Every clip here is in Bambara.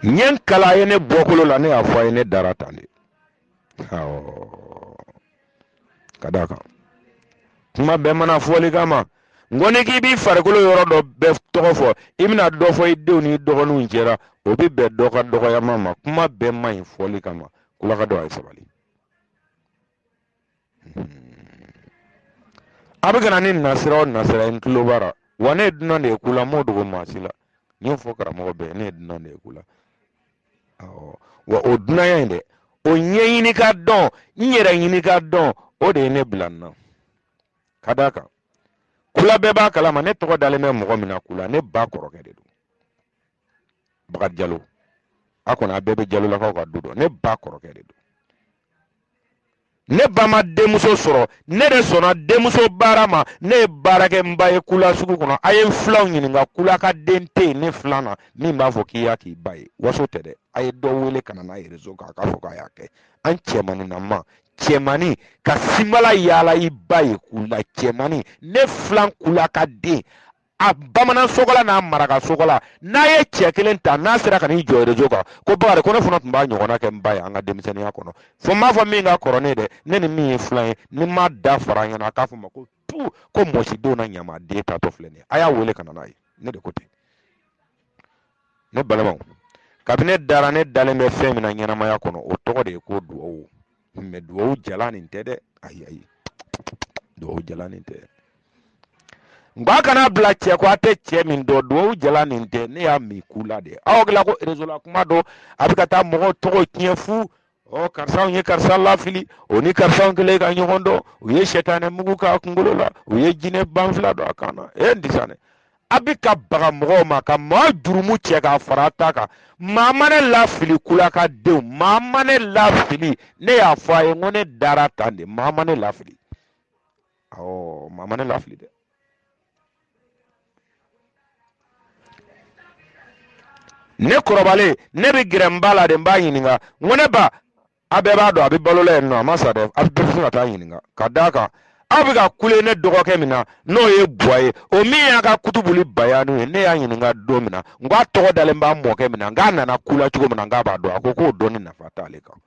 ɲɛ kala ye ne bɔkolo la ne y'a fɔ a ye ne dara tan de ka d'a kan kuma bɛɛ ma na fɔli kama n ko n'i k'i b'i farikolo yɔrɔ dɔ bɛɛ tɔgɔ fɔ i bɛna dɔ fɔ i denw n'i dɔgɔninw cɛ ra o bɛ bɛn dɔ ka dɔgɔyama ma kuma bɛɛ man ɲi fɔli kama kulaka denw a ye sabali a bɛ ka na ni nasira ɔ nasira i tulo b'a ra wa ne ye dunan de ye kula n m'o dogo maa si la n y'o fɔ karamɔgɔ bɛɛ ne ye dunan de ye kula awɔ wa o dunanya in dɛ o ɲɛɲini ka dɔn n yɛrɛ ɲini ka dɔn o de ye ne bila nin na ka d'a kan kula bɛɛ b'a kalama ne tɔgɔ dalen bɛ mɔgɔ min na kula ne ba kɔrɔkɛ de don Bakari Jalo a kɔni a bɛɛ bɛ Jalolakaw ka du dɔn ne ba kɔrɔkɛ de don ne ba ma denmuso sɔrɔ ne de sɔnna denmuso baara ma ne ye baarakɛ n ba ye kula sugu kɔnɔ a ye n filanw ɲininka kulaka den tɛ yen ne filan na min b'a fɔ k'i y'a k'i ba ye waso tɛ dɛ a ye dɔ wele ka na n'a ye rezo kan a k'a fɔ k'a y'a kɛ an cɛmaninama cɛmani ka sinbala yaala i ba ye kula cɛmani ne filan kulaka den a bamanan sogola n'a maraka sogola n'a ye cɛ kelen ta n'a sera ka n'i jɔ rezo kan ko bakari ko ne fana tun b'a ɲɔgɔnna kɛ n ba ye an ka denmisɛnninya kɔnɔ fo n m'a fɔ min ka kɔrɔ ne dɛ ne ni min ye filan ye ni n ma da fara ɲɛ na a k'a fɔ n ma ko tu ko mɔsi denw na ɲama den tatɔ filɛ nin ye a y'a wele ka na n'a ye ne de ko ten ne balimaw kabini ne dara ne dalen bɛ fɛn min na ɲɛnamaya kɔnɔ o tɔgɔ de ye ko duwawu mɛ dugawu jalan nin tɛ dɛ ayi ayi dugawu jalan nin tɛ nka a kana bila cɛ kɔ a tɛ cɛ min dɔn dugawu jalan nin tɛ ne y'a min kula de aw hakili la ko rezo la kuma don a bɛ ka taa mɔgɔw tɔgɔ tiɲɛ fu ɔ karisa ye karisa lafili o ni karisa kɛlen ka ɲɔgɔn dɔn u ye sɛtanɛ mugu k'a kunkolo la u ye jinɛ banfula don a kan na e n disa dɛ a bɛ ka baga mɔgɔw ma ka maa jurumu cɛ k'a fara a ta kan maa ma ne lafili kulaka denw maa ma ne lafili ne y'a fɔ a ye ko ne dara tan de maa ma ne lafili awɔ maa ma ne lafili dɛ ne kɔrɔbalen ne bɛ gɛrɛ n ba la de n b'a ɲininka n ko ne ba a bɛɛ b'a dɔn a bɛ balo la yen nɔ a ma sa dɛ a bɛɛ bɛ se ka t'a ɲininka ka d'a kan aw bɛ ka kule ne dɔgɔkɛ min na n'o ye buwa ye o min y'a ka kutubuli bayanu ye ne y'a ɲininka don min na n k'a tɔgɔ dalen b'a mɔkɛ min na n k'a nana kula cogo min na n k'a b'a dɔn a ko k'o dɔnni nafa t'ale kan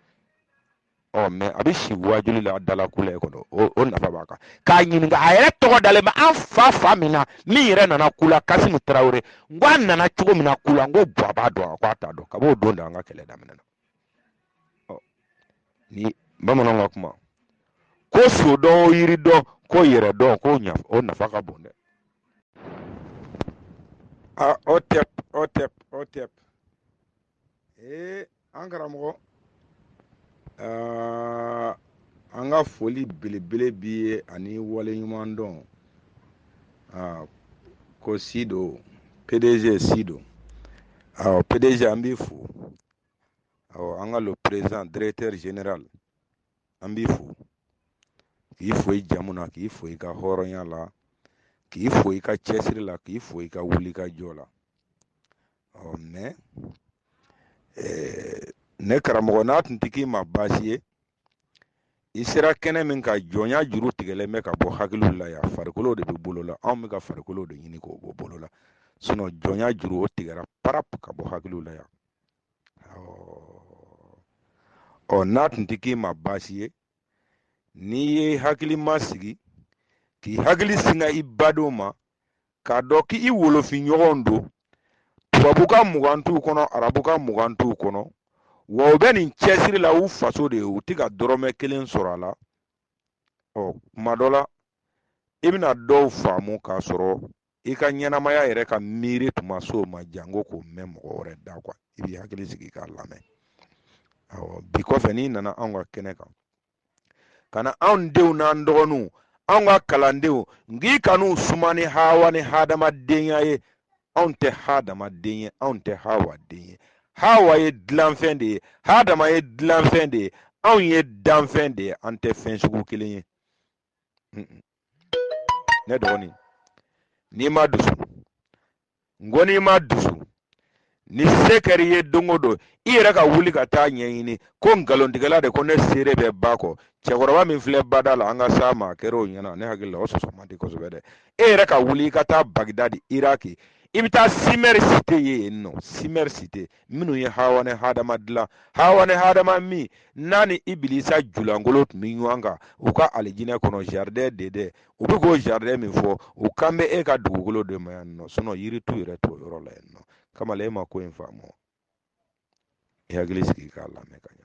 ɔ mɛ a bɛ si wajuli la dala kula ye kɔnɔ o nafa b'a kan k'a ɲininka a yɛrɛ tɔgɔ dalen bɛ an fa fa min na min yɛrɛ nana kula kasimu tarawele n k'a nana cogo min na kula n ko buwa b'a dɔn a ko a t'a dɔn kab'o don da an ka kɛlɛ daminɛna ni bamananw ka kuma ko so dɔn o yiri dɔn ko yɛrɛ dɔn ko ɲa o nafa ka bon dɛ a hotep hotep hotep ee an karamɔgɔ an ka foli belebele b'i ye ani waleɲumandɔn ah, ko sido pdg sido ah pdg an b'i fo ah an ka le président directeur général an b'i fo k'i fo i jamu na k'i fo i ka hɔrɔnya la k'i fo i ka cɛsiri la k'i fo i ka wulikajɔ la ɔ mɛ eh, ne karamɔgɔ n'a tun tɛ k'i ma baasi ye i sera kɛnɛ min ka jɔnya juru tigɛlen bɛ ka bɔ hakiliw la yan farikolo de bɛ bolo la anw bɛ ka farikolo de ɲini k'o bɔ bolo la sinɔn jɔnya juru o tigɛra parap ka bɔ hakiliw la yan ɔ n'a tun tɛ k'i ma baasi ye n'i y'i hakili masigi k'i hakili singa i badenw ma k'a dɔn k'i wolofin ɲɔgɔnw don tubabu ka mugan t'u kɔnɔ arabu ka mugan t'u kɔnɔ wa u bɛ nin cɛsiri la u faso de ye u tɛ ka dɔrɔmɛ kelen sɔrɔ a la ɔ kuma dɔ la i bɛna dɔw faamu k'a sɔrɔ i ka ɲɛnamaya yɛrɛ ka miiri tun ma s'o ma janko k'o mɛn mɔgɔ wɛrɛ da kuwa i b'i hakili sigi k'a lamɛn awɔ bi kɔfɛ n'i nana anw ka kɛnɛ kan kana anw denw n'an dɔgɔninw anw ka kalandenw n k'i kan'u suma ni hawa ni hadamadenya ye anw tɛ hadamaden ye anw tɛ hawa den ye hawa ye dilanfɛn de ye hadama ye dilanfɛn de ye anw ye danfɛn de ye an tɛ fɛn sugu kelen ye ne dɔgɔnin n'i ma dusu n ko n'i ma dusu ni se kɛra i ye don o don i yɛrɛ ka wuli ka taa a ɲɛɲini ko nkalontigɛla de ko ne seere bɛ ba kɔ cɛkɔrɔba min filɛ bada la an ka s'a ma a kɛra o ɲɛna ne hakili la o sɔsɔ man di kosɛbɛ dɛ e yɛrɛ ka wuli i ka taa bagidadi iraki i bɛ taa simɛri site ye yen nɔ simɛri site minnu ye hawa ni hadama dilan hawa ni hadama min n'a ni ibilisa julankolon tun bɛ ɲɔgɔn kan u ka alijinɛ kɔnɔ jardin d'éden u bɛ k'o jardin min fɔ u kan bɛ e ka dugukolo de ma yan nɔ sinɔn yiritu yɛrɛ t'o yɔrɔ la yan nɔ kamalen e ma ko in faamu i hakili sigi k'a lamɛn ka ɲɛ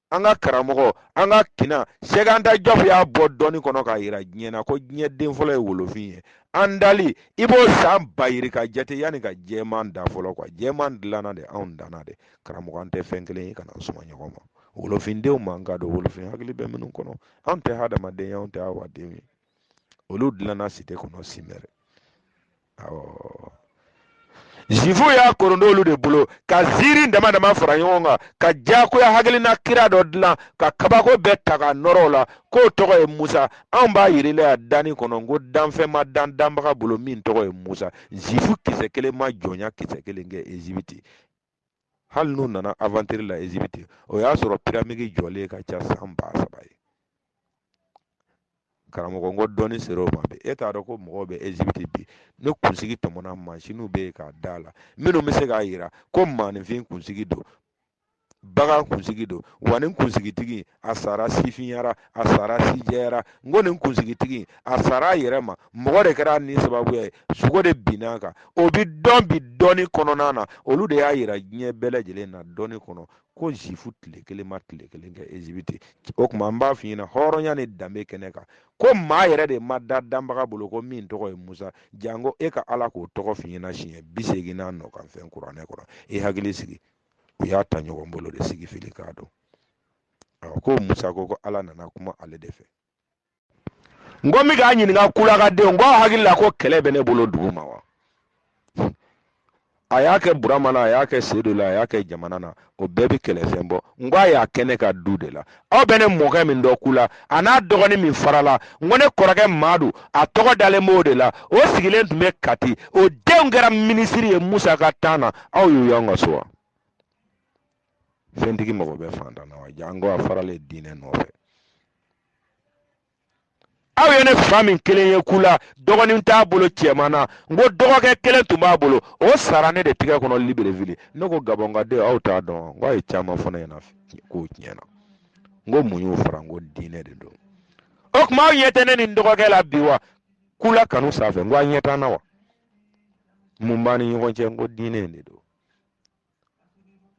an ka karamɔgɔ an ka kinna cheikh anta diop y'a bɔ dɔnni kɔnɔ k'a jira diɲɛ na ko diɲɛ den fɔlɔ ye wolofin ye an dali i b'o san ba yirika jate yanni ka jɛman dan fɔlɔ kuwa jɛman dilanna de anw danna de karamɔgɔ an tɛ fɛn kelen ye kan'an suma ɲɔgɔn ma wolofindenw man ka don wolofin hakili bɛ minnu kɔnɔ anw tɛ hadamaden ye anw tɛ hawadenw ye olu dilanna site kɔnɔ simɛri zifu y'a korondolu de bolo ka ziiri dama dama fara ɲɔgɔn kan ka diyagoya hakilina kira dɔ dilan ka kabako bɛɛ ta ka nɔrɔ a la k'o tɔgɔ ye musa anw b'a yirila ya danni kɔnɔ ko danfɛn ma dan danbaga bolo min tɔgɔ ye musa zifu kisɛ kelen ma jɔnya kisɛ kelen kɛ ezibiti hali n'u nana aventure la Égypte o y'a sɔrɔ pyramide jɔlen ka ca san ba saba ye karamɔgɔ n ko dɔnni sera o ma bi e t'a dɔn ko mɔgɔw bɛ Égypte bi ni kunsigi tɔmɔna mansinw bɛ yen k'a d'a la minnu bɛ se k'a jira ko maaninfin kunsigi don bagan kunsigi don wa nin kunsigitigi a sara sifinya ra a sara sijɛya ra n ko nin kunsigitigi a sara a yɛrɛ ma mɔgɔ de kɛra ni sababuya ye sogo de binna a kan o bi dɔn bi dɔnni kɔnɔna na olu de y'a yira diɲɛ bɛɛ lajɛlen na dɔnni kɔnɔ ko zifu tile kelen ma tile kelen kɛ ezibiti o tuma an b'a f'i ɲɛna hɔrɔnya ni danbe kɛnɛ kan ko maa yɛrɛ de ma da danbaga bolo ko min tɔgɔ ye musa janko e ka ala k'o tɔgɔ f'i ɲɛna siɲɛ bi seegin n'a nɔ kan fɛn kuranɛ kɔnɔ i hakili sigi u y'a ta ɲɔgɔn bolo de sigi fili k'a dɔn ko musa ko ko ala nana kuma ale de fɛ n ko n bɛ k'a ɲininka kulakadenw ko aw hakili la ko kɛlɛ bɛ ne bolo dugu ma wa a y'a kɛ burama na a y'a kɛ sedu la a y'a kɛ jamana na o bɛɛ bɛ kɛlɛfɛn bɔ n ko a y'a kɛ ne ka du de la aw bɛ ne mɔkɛ min dɔn kula a n'a dɔgɔnin min farala n ko ne kɔrɔkɛ maadu a tɔgɔ dalen b'o de la o sigilen tun bɛ kati o denw kɛra minisiri ye musa ka tan na aw y'u y'an ka so wa fɛntigi mago bɛ fantan na wa janko a faralen diinɛ nɔfɛ aw ye ne fa min kelen ye kula dɔgɔnin t'a bolo cɛman na n ko dɔgɔkɛ kelen tun b'a bolo o sara ne de tigɛ kɔnɔ libelevili ne ko gabɔnkaden aw t'a dɔn n ko a ye caman fɔ ne ɲɛna k'o tiɲɛna n ko mun y'o fara n ko diinɛ de don o tuma aw ɲɛ tɛ ne ni dɔgɔkɛ la bi wa kula kanu sanfɛ n ko a ɲɛ t'an na wa mun b'an ni ɲɔgɔn cɛ n ko diinɛ de don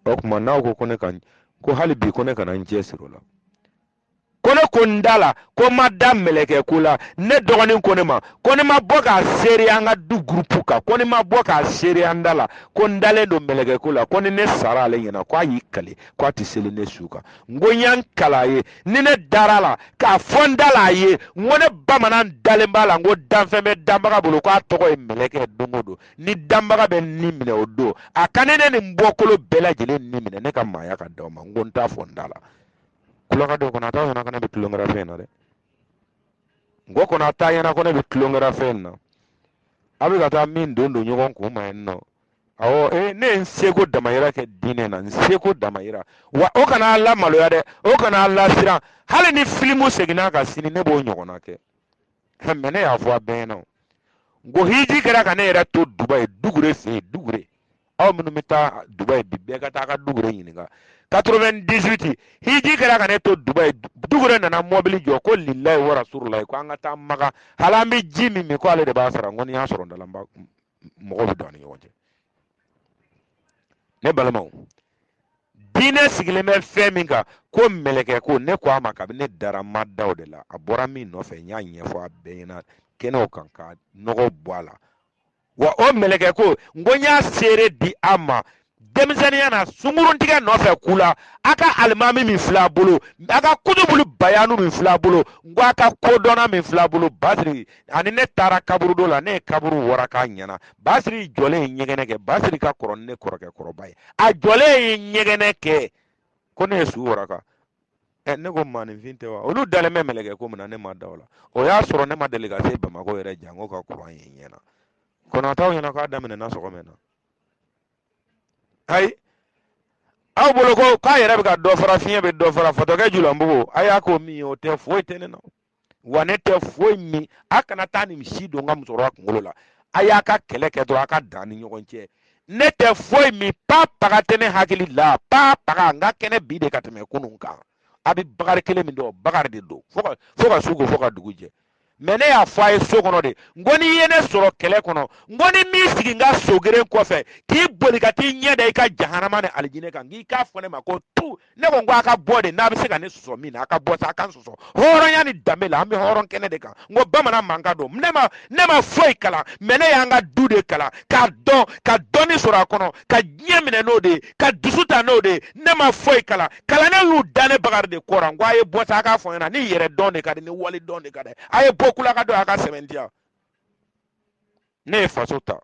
o tuma n'aw ko ko ne ka ko hali bi ko ne kana n cɛ siri o la ko ne ko n da la ko n ma da mɛlɛkɛ ko la ne dɔgɔnin ko ne ma ko ne ma bɔ k'a seereya an ka du gurupu kan ko ne ma bɔ k'a seereya n da la ko n dalen don mɛlɛkɛ ko la ko ni ne sara ale ɲɛna ko a y'i kale ko a tɛ seli ne su kan n ko n ye n kale a ye ni ne dara a la k'a fɔ n da la a ye n ko ne bamanan dalen b'a la n ko danfɛn bɛ danbaga bolo ko a tɔgɔ ye mɛlɛkɛ don o don ni danbaga bɛ ni minɛ o don a ka ne ne ni n bɔkolo bɛɛ lajɛlen ni minɛ ne ka maaya ka d'aw ma n ko n t'a fɔ n da la tulonkɛ dɔ kɔnɔ a t'a ɲɛna ko ne bɛ tulonkɛra fɛn na dɛ n ko kɔnɔ a t'a ɲɛna ko ne bɛ tulonkɛra fɛn na a bɛ ka taa min don don ɲɔgɔn kun ma yen nɔ awɔ ee ne ye n seko damayira kɛ diinɛ na n seko damayira wa o kana a lamaloya dɛ o kana a lasiran hali ni filimu seginna a kan sini ne b'o ɲɔgɔnna kɛ mɛ ne y'a fɔ a bɛɛ ɲɛna n ko hiji kɛra ka ne yɛrɛ to dubayi dugure fɛ yen dugure aw minnu bɛ taa dubayi bi bɛɛ ka taa ka dugure ɲininka 98 hiji kɛra ka ne to dubayi dugure nana mɔbili jɔ ko lilayi wa rasululayi ko an ka taa maga hali an bɛ ji min min ko ale de b'a sara n ko ni y'a sɔrɔ n dalen b'a mɔgɔ bɛ don a ni ɲɔgɔn cɛ ne balimaw diinɛ sigilen bɛ fɛn min kan ko mɛlɛkɛko ne ko a ma kabini ne dara ma da o de la a bɔra min nɔfɛ n y'a ɲɛfɔ a bɛɛ ɲɛna kɛnɛw kan ka nɔgɔ bɔ a la wa o mɛlɛkɛko n ko n y'a seere di a ma denmisɛnninya na sunguruntigɛ nɔfɛ kula a ka alimami min fil'a bolo a ka kutubulu bayanu min fil'a bolo n ko a ka kodɔnna min fil'a bolo basiri ani ne taara kaburudo la ne ye kaburu waraka a ɲɛna basiri jɔlen ye ɲɛgɛnɛ kɛ basiri ka kɔrɔ ni ne kɔrɔkɛ kɔrɔba ye a jɔlen ye ɲɛgɛnɛ kɛ ko ne ye su waraka ɛ ne ko maaninfin tɛ wa olu dalen bɛ mɛlɛkɛko min na ne ma da o la o y'a sɔrɔ ne ma deli ka se bamakɔ yɛrɛ janko ka kuran ye n ɲɛna kɔnɔtaw ɲɛna k'a daminɛna sɔgɔmɛ na ayi aw bolo ko k'a yɛrɛ bɛ ka dɔ fara fiɲɛ bɛ dɔ fara fatɔkɛ julanbugu a y'a ko min ye o tɛ foyi tɛ ne na wa ne tɛ foyi min a kana taa nin si don n ka musokɔrɔba kunkolo la a y'a ka kɛlɛ kɛ dɔrɔn a ka dan ni ɲɔgɔn cɛ ne tɛ foyi min pa paga tɛ ne hakili la pa paga n ka kɛnɛ bi de ka tɛmɛ kunun kan a bɛ bakari kelen min dɔn bakari de don fo ka fo ka su ko fo ka dugu jɛ mɛ ne y'a fɔ a ye so kɔnɔ de n ko n'i ye ne sɔrɔ kɛlɛ kɔnɔ n ko n'i m'i sigi n ka so geren kɔfɛ k'i boli ka t'i ɲɛ da i ka jahanama ni alijinɛ kan k'i k'a fɔ ne ma ko tu ne ko n ko a ka bɔ de n'a bɛ se ka ne sɔsɔ min na a ka bɔ sa a ka n sɔsɔ hɔrɔnya ni danbe la an bɛ hɔrɔn kɛnɛ de kan n ko bamanan mankan don ne ma ne ma foyi kalan mɛ ne y'an ka du de kalan ka dɔn ka dɔnni sɔrɔ a kɔnɔ ka diɲɛ minɛ n'o de ye ka dusu ta n'o de ye ne ma foyi kalan kalannenw y'u da ne bakari de kɔrɔ n ko a ye bɔ sa a k'a fɔ ɲɛna ni yɛrɛdɔn de ka di ni walidɔn de ka di a ye bɔ kula ka don a ka sɛbɛn di yan ne ye faso ta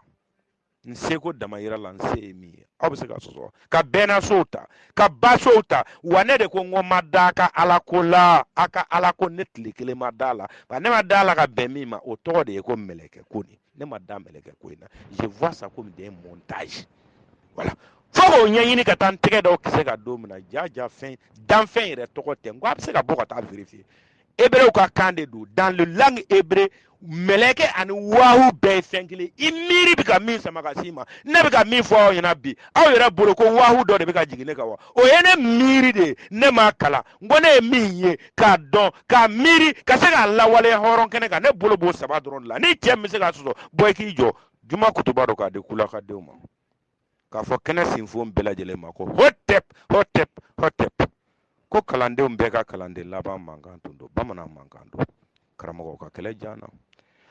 n seko damayira la n se ye min ye aw bɛ se ka sɔsɔ ka bɛnnasow ta ka basow ta wa ne de ko n ko n ma da a ka alako la a ka alako ne tile kelen ma da a la nka ne ma da a la ka bɛn min ma o tɔgɔ de ye ko mɛlɛkɛko nin ne ma da mɛlɛkɛko in na je vois ça comme des montages voilà fo k'o ɲɛɲini ka taa n tɛgɛ dɔw kisɛ ka don min na ja ja fɛn danfɛn yɛrɛ tɔgɔ tɛ n ko a bɛ se ka bɔ ka taa vérifier hebrew ka kan de don dans le langue hébreu mɛlɛkɛ ani wahu bɛɛ ye fɛn kelen i miiri bɛ ka min sama ka s'i ma ne bɛ ka min fɔ aw ɲɛna bi aw yɛrɛ bolo ko wahu dɔ de bɛ ka jigin ne kan wa o ye ne miiri de ye ne m'a kalan n ko ne ye min ye k'a dɔn k'a miiri ka se k'a lawaleya hɔrɔn kɛnɛ kan ne bolo b'o saba dɔrɔn de la ni cɛ bɛ se k'a sɔsɔ bɔ i k'i jɔ juma kutuba dɔ k'a di kulakadenw ma k'a fɔ kɛnɛ sinfon bɛɛ lajɛlen ma ko hotep hotep hotep ko kalandenw bɛɛ ka kalanden laban mankan tun don bamanan mankan don karamɔgɔ ka kɛlɛ jan na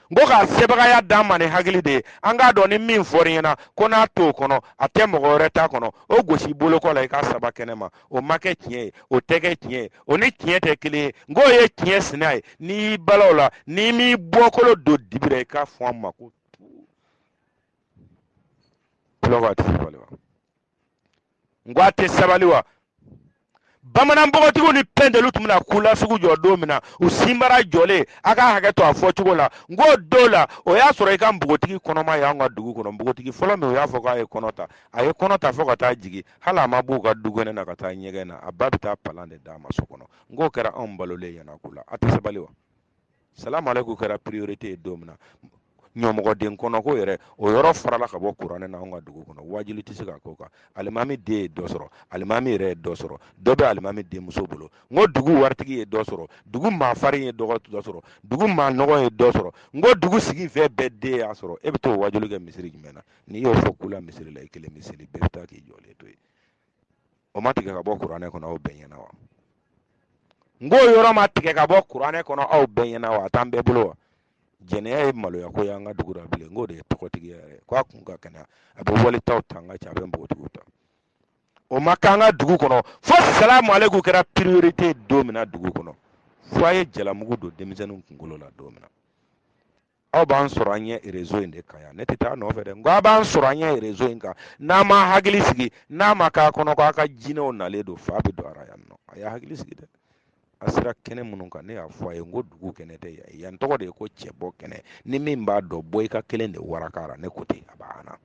n ko k'a sebagaya d'an ma ni hakili de ye an k'a dɔn ni min fɔr'i ɲɛna ko n'a t'o kɔnɔ a tɛ mɔgɔ wɛrɛ ta kɔnɔ o gosi bolokɔ la i k'a saba kɛnɛ ma o ma kɛ tiɲɛ ye o tɛ kɛ tiɲɛ ye o ni tiɲɛ tɛ kelen ye n k'o ye tiɲɛ sina ye n'i y'i bala o la n'i m'i bɔkolo don dibi la i k'a fɔ an ma ko tulɔ b'a tigi bali wa n ko a tɛ sabali wa bamanan npogotigiw ni pɛntɛliw tun bɛna kula sugu jɔ don min na u sinbara jɔlen a ka hakɛ to a fɔcogo la n k'o don la o y'a sɔrɔ i ka npogotigi kɔnɔma y'an ka dugu kɔnɔ npogotigi fɔlɔ min u y'a fɔ k'a ye kɔnɔ ta a ye kɔnɔ ta fo ka taa jigin hali a ma b'u ka dukɛnɛ na ka taa ɲɛgɛn na a ba bɛ taa palan de d'a ma so kɔnɔ n k'o kɛra anw balolen ɲɛna ko la a tɛ sabali wa salamu aleykum kɛra priorité ye don min na ɲɔmɔgɔden kɔnɔko yɛrɛ o yɔrɔ farala ka bɔ kuranɛ na anw ka dugu kɔnɔ waajuli tɛ se ka k'o kan alimami den ye dɔ sɔrɔ alimami yɛrɛ ye dɔ sɔrɔ dɔ bɛ alimami denmuso bolo n ko dugu waritigi ye dɔ sɔrɔ dugu maa farin ye dɔ sɔrɔ dugu maa nɔgɔ ye dɔ sɔrɔ n ko dugu sigi fɛn bɛɛ den y'a sɔrɔ e bɛ t'o waajuli kɛ misiri jumɛn na n'i y'o fɔ kula misiri la i kelen misiri bɛɛ bɛ taa k'i jɔlen to yen o ma tigɛ ka bɔ kuranɛ kɔnɔ aw bɛɛ ɲɛna wa n k'o yɔrɔ ma tigɛ ka bɔ kuranɛ kɔnɔ aw bɛɛ ɲɛna wa a t'an bɛɛ bolo wa jɛnɛya ye maloya ko y'an ka dugu la bilen n k'o de ye tɔgɔtigi yɛrɛ ko a kun ka kɛnɛ a bɛ waletaw ta an ka ca a bɛ npogotigiw ta o ma k'an ka dugu kɔnɔ fo salamu aleykum kɛra priorité don min na dugu kɔnɔ fo a ye jalamugu don denmisɛnninw kunkolo la don min na aw b'an sɔrɔ a ɲɛ rezo in de kan yan ne tɛ taa nɔfɛ dɛ nka aw b'an sɔrɔ a ɲɛ rezo in kan n'a m'a hakili sigi n'a ma k'a kɔnɔ k'a ka jinɛw nalen don fa bɛ don a ra yan nɔ a y'a hakili sigi dɛ a sera kɛnɛ minnu kan ne y'a fɔ a ye n ko dugu kɛnɛ tɛ yan yan tɔgɔ de ye ko cɛbɔ kɛnɛ ni min b'a dɔn bɔ i ka kelen de warakara ne ko ten a banna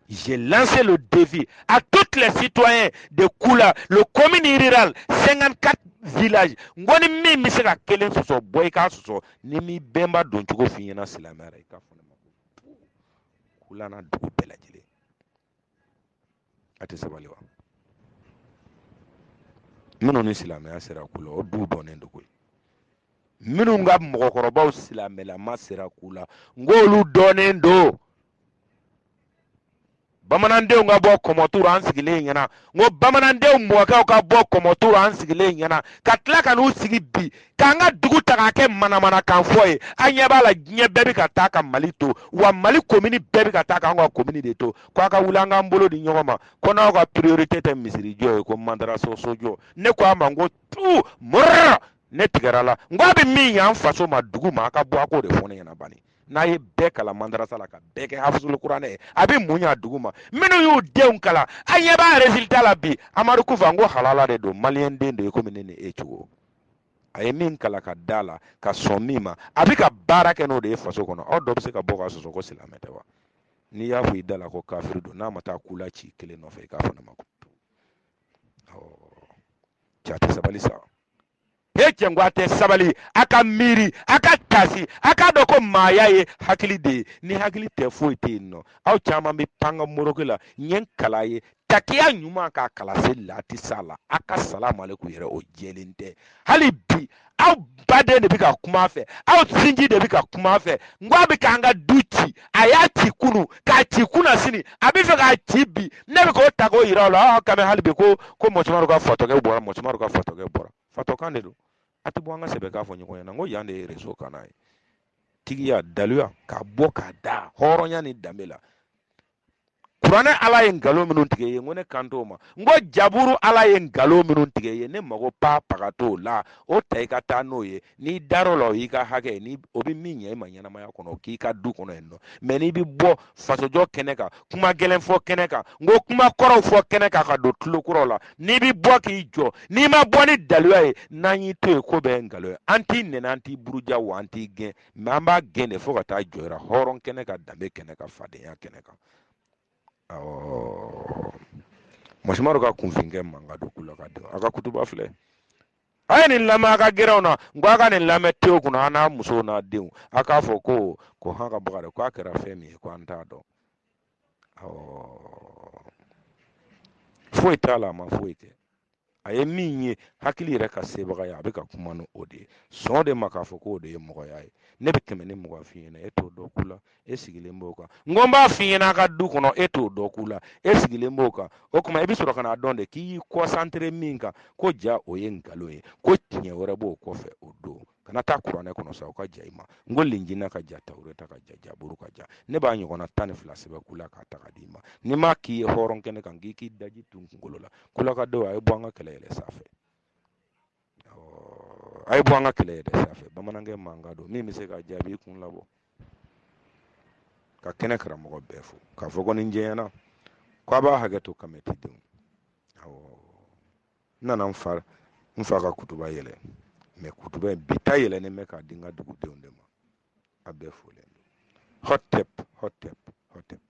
J'ai lancé le défi à tous les citoyens de Koula, le commune rurale, 54 villages. N ko ni min bɛ se ka kelen sɔsɔ bɔ i k'a sɔsɔ ni n m'i bɛnba don cogo f'i ɲɛna silamɛya la i k'a fɔ ne ma ko Koula n'a dugu bɛɛ lajɛlen a tɛ sabali wa minnu ni silamɛya sera Koula o duw dɔnnen don koyi minnu ka mɔgɔkɔrɔbaw silamɛlama sera Koula n k'olu dɔnnen don. bamanandenw ka bɔ kɔmɔtu rɔ an sigilen ɲɛna n ko bamanandenw mɔkɛw ka bɔ kɔmɔtu rɔ an sigilen ɲɛna ka tila ka n'u sigi bi k'an ka dugu ta k'a kɛ manamanakan fɔ ye an ɲɛ b'a la diɲɛ bɛɛ bɛ ka taa ka mali to wa mali komini bɛɛ bɛ ka taa k'an ka komini de to ko a ka wuli an k'an bolo di ɲɔgɔn ma ko n'aw ka priorité tɛ misirijɔ ye ko madarasa sojɔ ne ko a ma n k'o tuma rɔ ne tigɛr'a la n ko a bɛ min y'an faso ma dugu ma a ka bɔ a k'o de fɔ ne ɲɛna bani n'a ye bɛɛ kalan mandarasa la ka bɛɛ kɛ hafizul kuranɛ ye a bɛ mun ɲ'a dugu ma minnu y'u denw kalan an ɲɛ b'a résultat la bi amadu kufa n ko halaladen don maliyɛn den de ye komi ne ni e cogo a ye min kalan ka da la ka sɔn min ma a bɛ ka baara kɛ n'o de ye faso kɔnɔ aw dɔ bɛ se ka bɔ ka sɔsɔ ko silamɛ tɛ wa n'i y'a fɔ i da la ko kafiri don n'a ma taa kula ci kelen nɔfɛ i k'a fɔ ne ma ko awɔ ja tɛ sabali sa hee cɛ n ko a tɛ sabali a ka miiri a ka tasi a k'a dɔn ko maaya ye hakili de ye ni hakili tɛ foyi tɛ yen nɔ aw caman bɛ pan ka moroke la n ye n kala ye takiya ɲuman k'a kala se lati sa la a ka salamu aleykum yɛrɛ o jɛlen tɛ hali bi aw baden de bɛ ka kuma a fɛ aw sinji de bɛ ka kuma a fɛ n ko a bɛ k'an ka du ci a y'a ci kunu k'a ci kunasini a bɛ fɛ k'a ci bi ne bɛ k'o ta k'o yira o la aa kami hali bi ko ko mɔgɔ caman ka fatɔkɛ bɔra mɔgɔ caman ka fatɔkɛ bɔra fatɔkan de don a tɛ bɔ an ka sɛbɛ k'a fɔ ɲɔgɔn ɲɛna n ko yan de ye rezo kan ye tigiya daluya k'a bɔ k'a da hɔrɔnya ni danbe la kuranɛ ala ye nkalon minnu tigɛ yen n ko ne kan t'o ma n ko jaburu ala ye nkalon minnu tigɛ yen ne mago pa paga t'o la o ta i ka taa n'o ye n'i dar'o la o y'i ka hakɛ ye ni o bɛ min ɲɛ i ma ɲɛnamaya kɔnɔ o k'i ka du kɔnɔ yen nɔ mɛ n'i bɛ bɔ fasojɔ kɛnɛ kan kuma gɛlɛn fɔ kɛnɛ kan n ko kuma kɔrɔw fɔ kɛnɛ kan ka don tulo kɔrɔw la n'i bɛ bɔ k'i jɔ n'i ma bɔ ni daluya ye n'an y'i to yen ko bɛɛ ye nkalon ye an t'i nɛni an t'i buruja wa an t'i gɛn mɛ an b'a gɛn de fo ka taa jɔra hɔrɔn kɛnɛ kan danbe kɛnɛ kan fadenya kɛnɛ kan masumaworo ka kunfinkɛ mankan don kula ka dɔn a ka kutuba filɛ a ye nin lamɛn a ka gɛrɛnw na n ko a ka nin lamɛn tew kunna a n'a musow n'a denw a k'a fɔ ko ko han ka baga dɛ k'a kɛra fɛn min ye ko an t'a dɔn foyi t'a la a ma foyi kɛ a ye min ye hakili yɛrɛ ka sebagaya a bɛ ka kuma ni o de ye sɔn de ma k'a fɔ k'o de ye mɔgɔya ye ne bɛ kɛmɛ ni mugan f'i ɲɛna e t'o dɔn kula e sigilen b'o kan n ko n b'a f'i ɲɛna a ka du kɔnɔ e t'o dɔn kula e sigilen b'o kan o tuma i bɛ sɔrɔ ka n'a dɔn de k'i y'i kɔsantere min kan ko ja o ye nkalon ye ko tiɲɛ wɛrɛ b'o kɔfɛ o don kana taa kuranɛ kɔnɔ sa u ka ja i ma n ko lenjina ka ja tawureta ka ja jaburu ka ja ne b'a ɲɔgɔnna tan ni fila sɛbɛn kula k'a ta k'a d'i ma n'i m'a k'i ye hɔrɔn kɛnɛ kan k'i k'i daji tu n kunkolo la kulakadenw a ye bɔ an ka kɛlɛ yɛlɛ sanfɛ a ye bɔ an ka kɛlɛ yɛlɛ sanfɛ bamanankɛ mankan don min bɛ se ka jaabi kun labɔ ka kɛnɛ karamɔgɔ bɛɛ fo k'a fɔ ko ni jɛɲɛna ko a b'a hakɛ to kamɛtidenw n nana n fa n fa ka kutuba yɛlɛ mɛ kutuba in bi ta yɛlɛnen bɛ k'a di n ka dugudenw de ma a bɛɛ folen don hɔtɛp hɔtɛp hɔtɛp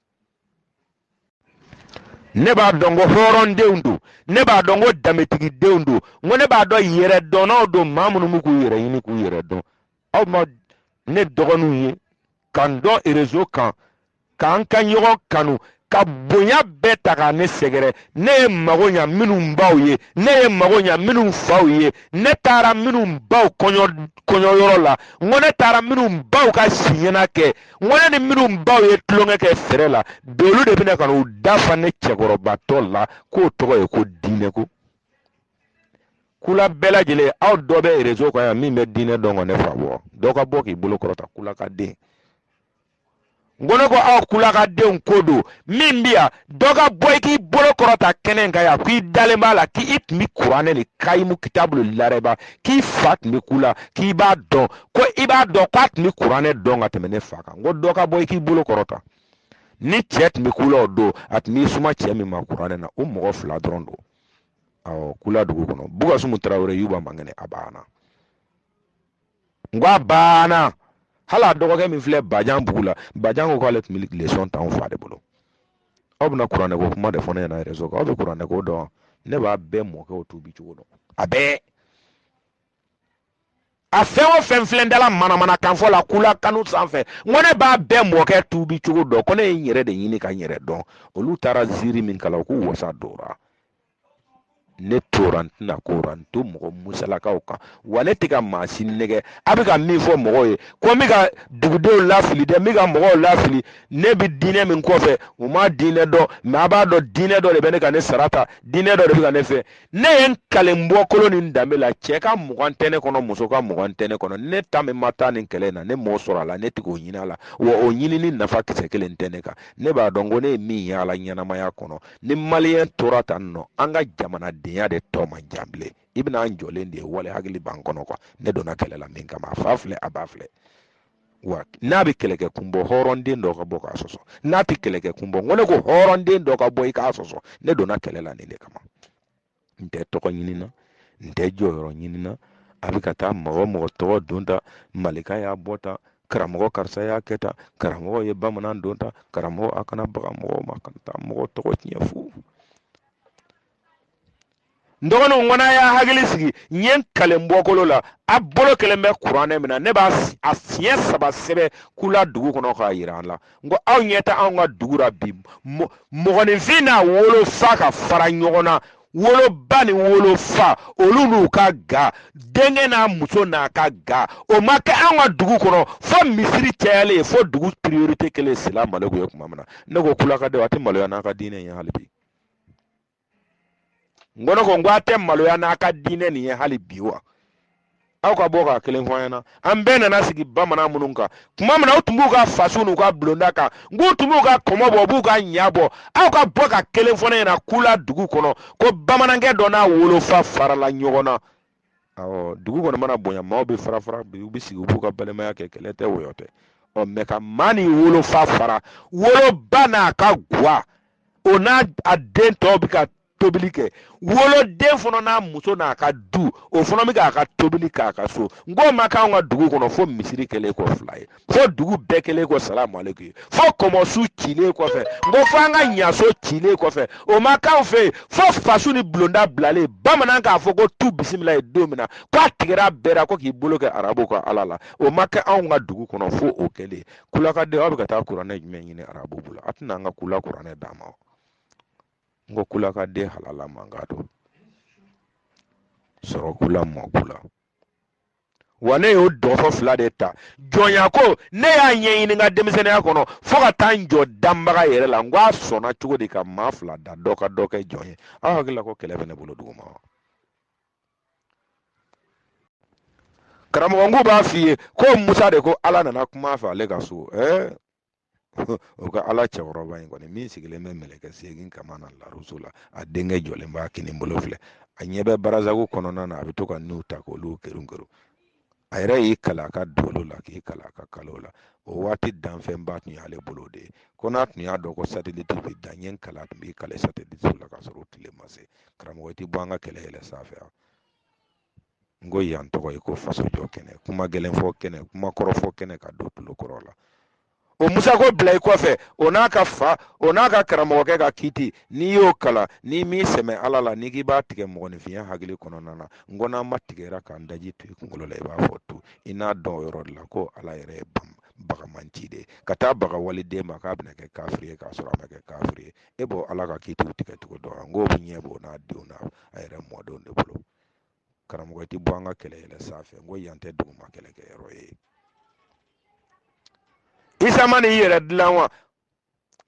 ne b'a dɔn ko hɔrɔndenw don ne b'a dɔn ko danbetigidenw don n ko ne b'a dɔn yɛrɛdɔnnaw don maa minnu bɛ k'u yɛrɛ ɲini k'u yɛrɛ dɔn aw ma ne dɔgɔninw ye ka n dɔn erezo kan k'an ka ɲɔgɔn kanu ka bonya bɛɛ ta ka ne sɛgɛrɛ ne ye mago ɲa minnu baw ye ne ye mago ɲa minnu faw ye ne taara minnu baw kɔɲɔyɔrɔ la n ko ne taara minnu baw ka siɲɛna kɛ n ko ne ni minnu baw ye tulonkɛ kɛ fɛrɛ la bi olu de bɛna ka n'u da fa ne cɛkɔrɔbatɔ la k'o tɔgɔ ye ko diinɛko kula bɛɛ lajɛlen aw dɔ bɛ rezo kan yan min bɛ diinɛ dɔn ka ne fa bɔ dɔ ka bɔ k'i bolo kɔrɔta kulakaden n ko ne ko aw kulakadenw ko don min bi yan dɔ ka bɔ i k'i bolo kɔrɔta kɛnɛ kan yan k'i dalen b'a la k'i tun bi kuranɛ de kayimu kitabulu larɛba k'i fa tun bi kula k'i b'a dɔn ko i b'a dɔn k'a tun bi kuranɛ dɔn ka tɛmɛ ne fa kan n ko dɔ ka bɔ i k'i bolo kɔrɔta ni cɛ tun bi kula o don a tun b'i suma cɛ min ma kuranɛ na o mɔgɔ fila dɔrɔn don awɔ kula dugu kɔnɔ bugasumu tarawele yuba mankɛnɛ a banna n ko a banna hali a dɔgɔkɛ min filɛ bajanbugu la bajan ko k'ale tun bɛ lesɔn ta anw fa de bolo aw bɛna kuranɛko kuma de fɔ ne ɲɛna rezo kan aw bɛ kuranɛko dɔn ne b'a bɛɛ mɔkɛw tuubi cogo dɔn a bɛɛ a fɛn o fɛn filɛ dala manamanakan fɔ la kula kanu sanfɛ n ko ne b'a bɛɛ mɔkɛ tuubi cogo dɔn ko ne ye n yɛrɛ de ɲini ka n yɛrɛ dɔn olu taara ziiri min kala u k'u wasa dora ne tora n tɛna kora n to mɔgɔ musalakaw kan wa ne tɛ ka maa si nɛgɛ a bɛ ka min fɔ mɔgɔw ye ko n bɛ ka dugudenw lafili dɛ n bɛ ka mɔgɔw lafili ne bɛ diinɛ min kɔfɛ u ma diinɛ dɔn mɛ a b'a dɔn diinɛ dɔ de bɛ ne ka ne sara ta diinɛ dɔ de bɛ ka ne fɛ ne ye n kalen bɔkolo ni danbe la cɛ ka mugan tɛ ne kɔnɔ muso ka mugan tɛ ne kɔnɔ ne ta min ma taa nin kɛlɛ in na ne m'o sɔrɔ a la ne tɛ k'o ɲini a la wa o ɲinini nafa kisɛ kelen tɛ ne kan ne b'a dɔn ko ne ye min ye a la ɲɛnamaya kɔnɔ ni maliyɛn tora tan nɔ an ka jamanadenya de tɔ man jan bilen i bɛna an jɔlen de ye wale hakili b'an kɔnɔ kuwa ne donna kɛlɛ la min kama a fa filɛ a ba filɛ wa n'a bɛ kɛlɛkɛ kun bɔ hɔrɔnden dɔ ka bɔ k'a sɔsɔ n'a tɛ kɛlɛkɛ kun bɔ ko ne ko hɔrɔnden dɔ ka bɔ i k'a sɔsɔ ne donna kɛlɛ la nin de kama n tɛ tɔgɔ ɲini na n tɛ jɔyɔrɔ ɲini na a bɛ ka taa mɔgɔ mɔgɔ tɔgɔ don tan malika y'a bɔ tan karamɔgɔ karisa y'a kɛ tan karamɔgɔ ye bamanan don tan karamɔgɔ a kana baga mɔgɔ ma kana taa mɔgɔ tɔgɔ tiɲɛ fo n dɔgɔninw n ko a y'a hakili sigi n ye n kalen bɔkolo la a bolo kelen bɛ kuranɛ min na ne b'a siɲɛ saba sɛbɛn kula dugu kɔnɔ k'a jira an la n ko aw ɲɛ tɛ anw ka dugu la bi mɔgɔninfin n'a wolofa ka fara ɲɔgɔn na woloba ni wolofa olu n'u ka ga denkɛ n'a muso n'a ka ga o ma kɛ anw ka dugu kɔnɔ fo misiri cayalen fo dugu priorite kɛlen salamaleku ye tuma min na ne ko kulakadenw a tɛ maloya n'a ka diinɛ ye hali bi n ko ne ko n ko a tɛ maloya n'a ka diinɛ nin ye hali bi wa aw ka bɔ ka kelen fɔ an ɲɛna an bɛɛ nana sigi bamanan minnu kan tuma min na u tun b'u ka fasu n'u ka bulonda kan n k'u tun b'u ka kɔmɔ bɔ u b'u ka ɲa bɔ aw ka bɔ ka kelen fɔ ne ɲɛna kula dugu kɔnɔ ko bamanankɛ dɔ n'a wolofa farala ɲɔgɔn na awɔ dugu kɔni mana bonya maaw bɛ fara fara bi u bɛ sigi u b'u ka balimaya kɛ kɛlɛ tɛ wɔyɔ tɛ ɔ mɛ ka maa n'i wolofa fara woloba n'a ka guwa o n'a den tɔw bɛ ka tobili kɛ woloden fana n'a muso n'a ka du o fana bɛ k'a ka tobili k'a ka so n k'o ma k'anw ka dugu kɔnɔ fo misiri kɛlen kɔ fila ye fo dugu bɛɛ kɛlen kɔ salamu aleykum ye fo kɔmɔso cilen kɔfɛ n ko fo an ka ɲaso cilen kɔfɛ o ma k'anw fɛ yen fo fasu ni bulonda bilalen bamanan k'a fɔ ko tu bisimila ye don min na ko a tigɛra bɛɛ la ko k'i bolo kɛ arabu ka ala la o ma kɛ anw ka dugu kɔnɔ fo o kɛlen kulakaden aw bɛ ka taa kuranɛ jumɛn ɲini arabu bolo a tɛna an ka kula kuranɛ d'a ma n ko kulakaden halala man ka don sɔrɔ kula mɔ kula wa ne y'o dɔgɔfɔ fila de ta jɔnya ko ne y'a ɲɛɲini n ka denmisɛnninya kɔnɔ fo ka taa n jɔ danbaga yɛrɛ la n ko a sɔnna cogo di ka maa fila da dɔ ka dɔ kɛ jɔn ye aw hakili la ko kɛlɛ bɛ ne bolo duguma wa karamɔgɔ n k'u b'a f'i ye ko musa de ko ala nana kuma a fɛ ale ka so ɛɛ o ka ala cɛkɔrɔba in kɔni min sigilen bɛ mɛlɛkɛ segin kaman na laruso la a denkɛ jɔlen b'a kininbolo filɛ a ɲɛ bɛ barazago kɔnɔna na a bɛ to ka n'u ta k'olu kerin kerin a yɛrɛ y'i kali a ka dolo la k'i kali a ka kalo la o waati danfɛnba tun y'ale bolo de ye ko n'a tun y'a dɔn ko sateliti bɛ dan ɲɛ k'ala tun b'i kali sateliti la ka sɔrɔ o tile ma se karamɔgɔ tɛ bɔ an ka kɛlɛ yɛlɛ sanfɛ n ko yan tɔgɔ ye ko faso jɔ kɛnɛ kuma gɛlɛn fɔ kɛnɛ kuma kɔrɔ fɔ kɛnɛ ka don tulo kɔrɔ la o musa ko bila i kɔfɛ o n'a ka fa o n'a ka karamɔgɔkɛ ka kiti n'i y'o kalan n'i m'i sɛmɛ ala la n'i k'i b'a tigɛ mɔgɔninfinya hakili kɔnɔna na n ko n'a ma tigɛra k'an daji tu i kunkolo la i b'a fɔ tu i n'a dɔn o yɔrɔ de la ko ala yɛrɛ ye banbaga maa ci de ka taa baga waliden ma k'a bɛna kɛ kafiri ye k'a sɔrɔ a ma kɛ kafiri ye e b'o ala ka kitiw tigɛ cogo dɔn n k'o bɛ ɲɛ b'o n'a denw n'a yɛrɛ mɔdenw de bolo karamɔgɔ i tɛ bɔ an ka kɛlɛ yɛlɛ sanfɛ n ko yan tɛ duguma kɛlɛkɛyɔrɔ ye isa ma n'i yɛrɛ dilan wa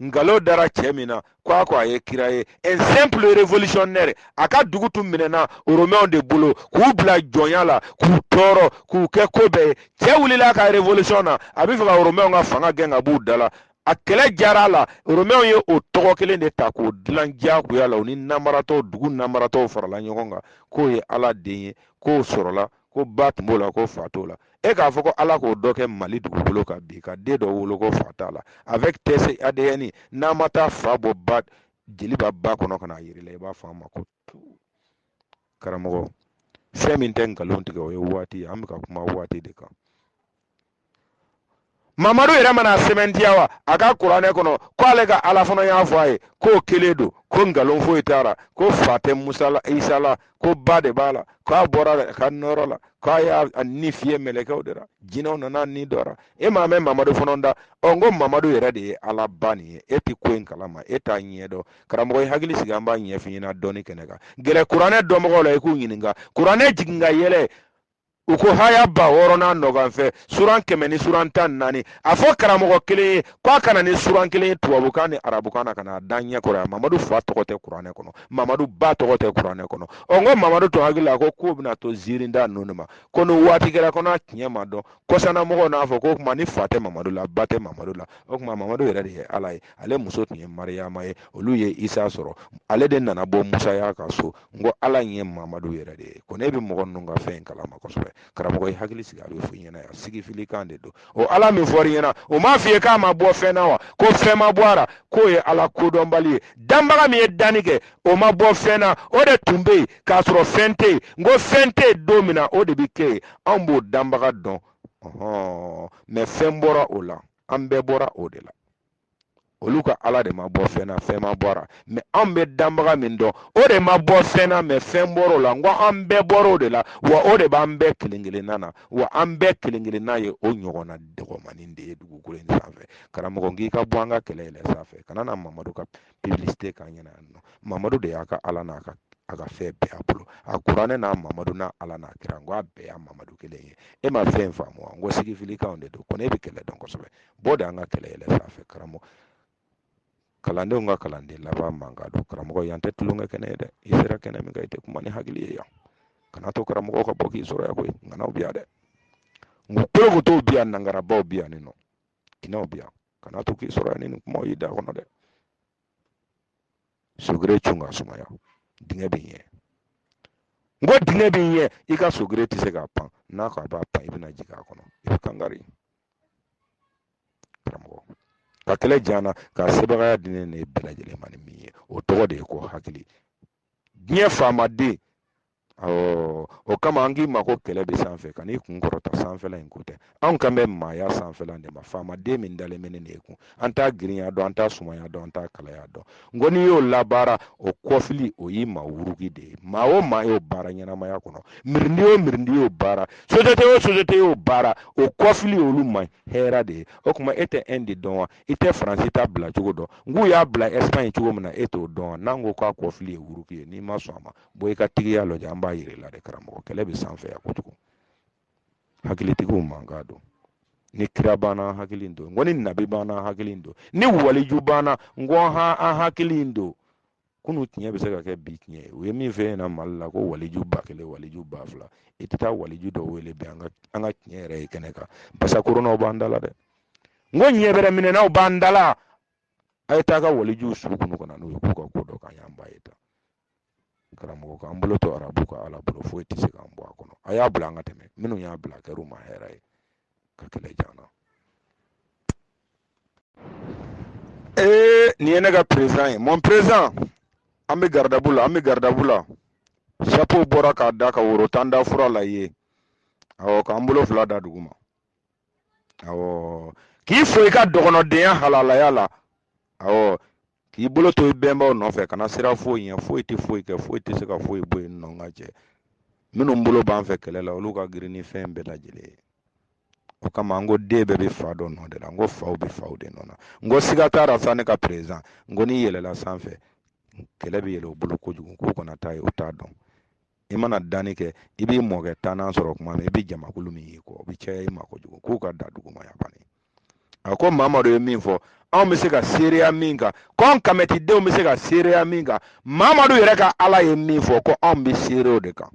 nkalon dara cɛ min na ko a ko a ye kira ye un simple révolutionnaire a ka dugu tun minɛna romainw de bolo k'u bila jɔnya la k'u tɔɔrɔ k'u kɛ ko bɛɛ ye cɛ wulila ka révolution na a bɛ fɛ ka romainw ka fanga gɛn ka b'u da la a kɛlɛ diyara a la romɛw ye o tɔgɔ kelen de ta k'o dilan diyagoya la u ni namaratɔw dugu namaratɔw farala ɲɔgɔn kan k'o ye ala den ye k'o sɔrɔla ko ba tun b'o la ko fa t'o la e k'a fɔ ko ala k'o dɔ kɛ mali dugukolo kan bi ka den dɔ wolo ko fa t'a la avec test adn n'a ma taa fa bɔ ba jeli b'a ba kɔnɔ ka n'a yira i la i b'a fɔ a ma ko karamɔgɔ fɛn min tɛ nkalon tigɛ o ye waati ye an bɛ ka kuma waati de kan mamadu yɛrɛ ma n'a sɛmɛntiya wa a ka kuranɛ kɔnɔ ko ale ka ala fana y'a fɔ a ye k'o kelen don ko nkalon foyi t'a la ko fa tɛ musa la isa la ko ba de b'a la k'a bɔra a ka nɔrɔ la k'a y'a ni fiyɛ mɛlɛkɛw de la jinɛw nana ni dɔ la e m'a mɛn mamadu fana da ɔ n ko mamadu yɛrɛ de ye ala ba nin ye e tɛ ko in kalama e t'a ɲɛ dɔn karamɔgɔ i hakili sigi an b'a ɲɛfɔ i ɲɛna dɔɔni kɛnɛ kan gɛrɛ kuranɛ dɔnbagaw la i k'u ɲininka kuranɛ jigin ka yɛlɛ u ko haya ba wɔɔrɔ n'a nɔganfɛ suran kɛmɛ ni suran tan naani a fɔ karamɔgɔ kelen ye k'a ka na ni suran kelen ye tubabukan ni arabukan na ka na a da ɲɛ kɔrɔ yan mamadu fa tɔgɔ tɛ kuranɛ kɔnɔ mamadu ba tɔgɔ tɛ kuranɛ kɔnɔ ɔ n ko mamadu tun hakili la ko k'o bɛna to ziirinda ninnu ma ko ni waati kɛra ko n'a tiɲɛ ma dɔn kɔsanna mɔgɔw n'a fɔ ko o tuma ni fa tɛ mamadu la ba tɛ mamadu la o tuma mamadu yɛrɛ de ye ala ye ale muso tun ye mariyama ye olu ye isa sɔrɔ ale de nana bɔ musaya ka so n ko ala in ye mamadu yɛrɛ de ye ko ne bɛ mɔgɔ ninnu ka fɛn in kalama kosɛbɛ karamɔgɔ i hakili sigi a bɛ fɔ i ɲɛna yan sigifili kan de don o ala min fɔra i ɲɛna o m'a f'i ye k'a ma bɔ fɛn na wa ko fɛn ma bɔ a la k'o ye ala kodɔnbali ye danbaga min ye danni kɛ o ma bɔ fɛn na o de tun bɛ yen k'a sɔrɔ fɛn tɛ yen n ko fɛn tɛ yen don min na o de bɛ kɛ yen anw b'o danbaga dɔn mɛ fɛn bɔra o la an bɛɛ bɔra o de la olu ka ala de ma bɔ fɛn na fɛn ma bɔ a la mɛ an bɛ danbaga min dɔn o de ma bɔ fɛn na mɛ fɛn bɔr'o la n ko an bɛɛ bɔr'o de la wa o de b'an bɛɛ kelen kelenna na wa an bɛɛ kelen kelenna ye o ɲɔgɔnna dɔgɔmanin de ye dugukolo in sanfɛ karamɔgɔ n k'i ka bɔ an ka kɛlɛ yɛlɛ sanfɛ kana na mamadu ka publicité k'an ɲɛna yan nɔ mamadu de y'a ka ala n'a ka a ka fɛn bɛɛ a bolo a kuranɛ n'a mamadu n'a ala n'a kira n ko a bɛɛ y'a mamadu kelen ye e ma fɛn faamu wa n ko sigifilikanw de don ko ne bɛ kɛlɛ dɔn kosɛbɛ bɔ dɛ an ka kɛlɛ yɛlɛ sanfɛ karamɔgɔ kalandenw ka kalanden laban mankan don karamɔgɔ yan tɛ tulonkɛ kɛnɛ ye dɛ i sera kɛnɛ min kan i tɛ kuma ni hakili ye yan kana to karamɔgɔ ka bɔ k'i sɔrɔ yan koyi ŋanaw bi yan dɛ n ko kolokotow bi yan nangarabaw bi yan nin nɔ kinaw bi yan kana to k'i sɔrɔ yan ni nin kumaw y'i da kɔnɔ dɛ sogere cun ka sumaya dingɛ bɛ ɲɛ n ko dingɛ bɛ ɲɛ i ka sogere tɛ se k'a pan n'a ko a b'a pan i bɛna jigin a kɔnɔ i bɛ kan kari ka kɛlɛ diya an na ka sebagaya di ne n'e bɛɛ lajɛlen ma ni min ye o tɔgɔ de ye ko hakili diɲɛ faamaden awɔ o kama an k'i ma ko kɛlɛ bɛ sanfɛ kan'i kun kɔrɔta sanfɛla in ko tɛ anw kan bɛ maaya sanfɛla de ma faamaden min dalen bɛ ne de kun an t'a girinya dɔn an t'a sumaya dɔn an t'a kalaya dɔn n ko n'i y'o labaara o kɔfili o y'i ma wuruki de ye maa o maa y'o baara ɲɛnamaya kɔnɔ mirindi o mirindi y'o baara sosiyete o sosiyete y'o baara o kɔfili olu ma ye hɛrɛ de ye o tuma e tɛ ɛndi dɔn wa i tɛ faransi ta bila cogo dɔn nk'u y'a bila ɛsipaɲi cogo min na e t'o dɔn wa n'an ko k'a kɔfili ye wuruki ye n'i ma sɔn a ma bɔ i ka tigiya lajɛ an b'a yir'i la de karamɔgɔ kɛlɛ bɛ sanfɛ yan kojugu hakilitigiw man k'a dɔn ni kira banna hakili in don n ko ni nabi banna hakili in don ni waliju banna n ko ha an hakili in don kunu tiɲɛ bɛ se ka kɛ bi tiɲɛ ye u ye min fɛ yen na mali la ko waliju ba kelen waliju ba fila i tɛ taa waliju dɔ wele bi an ka an ka tiɲɛ yɛrɛ ye kɛnɛ kan basa koronaw b'an dala dɛ n ko ɲɛ bɛrɛ minɛnaw b'an dala a ye taa ka waliju su kunun ka na n'u ye k'u ka ko dɔ kan y'an ba ye ta karamɔgɔ k'an bolo to arabu ka ala bolo foyi tɛ se k'an bɔ a kɔnɔ a y'a bila an ka tɛmɛ minnu y'a bila a kɛr'u ma hɛrɛ ye ka kɛlɛ jan na ee nin ye ne ka perezan ye mon perezan an bɛ garidabu la an bɛ garidabu la sapo bɔra k'a da ka woro tan da fura la ye awɔ k'an bolo fila da dugu ma awɔ k'i fo i ka dɔgɔnɔdenya halalaya la awɔ k'i bolo to i bɛnbaw nɔfɛ kana siran foyi ɲɛ foyi tɛ foyi kɛ foyi tɛ se ka foyi bɔ yen nɔ ka jɛ minnu bolo b'an fɛ kɛlɛ la olu ka girin ni fɛn bɛɛ lajɛlen ye o kama n ko den bɛɛ bɛ fa dɔ nɔ de la n ko faw bɛ faw de nɔ na n ko siga t'a la sa ne ka perezan n ko n'i yɛlɛla sanfɛ kɛlɛ bɛ yɛlɛ o bolo kojugu k'u kana taa yen u t'a dɔn i mana danni kɛ i b'i mɔkɛ tannan sɔrɔ kuma min i bɛ jamakulu min y'i kɔ o bɛ caya i ma kojugu k'u ka da duguma yan banni a ko mamadu ye min fɔ anw bɛ se ka seereya min kan ko an kamɛtidenw bɛ se ka seereya min kan mamadu yɛrɛ ka ala ye min fɔ ko anw bɛ seere o de kan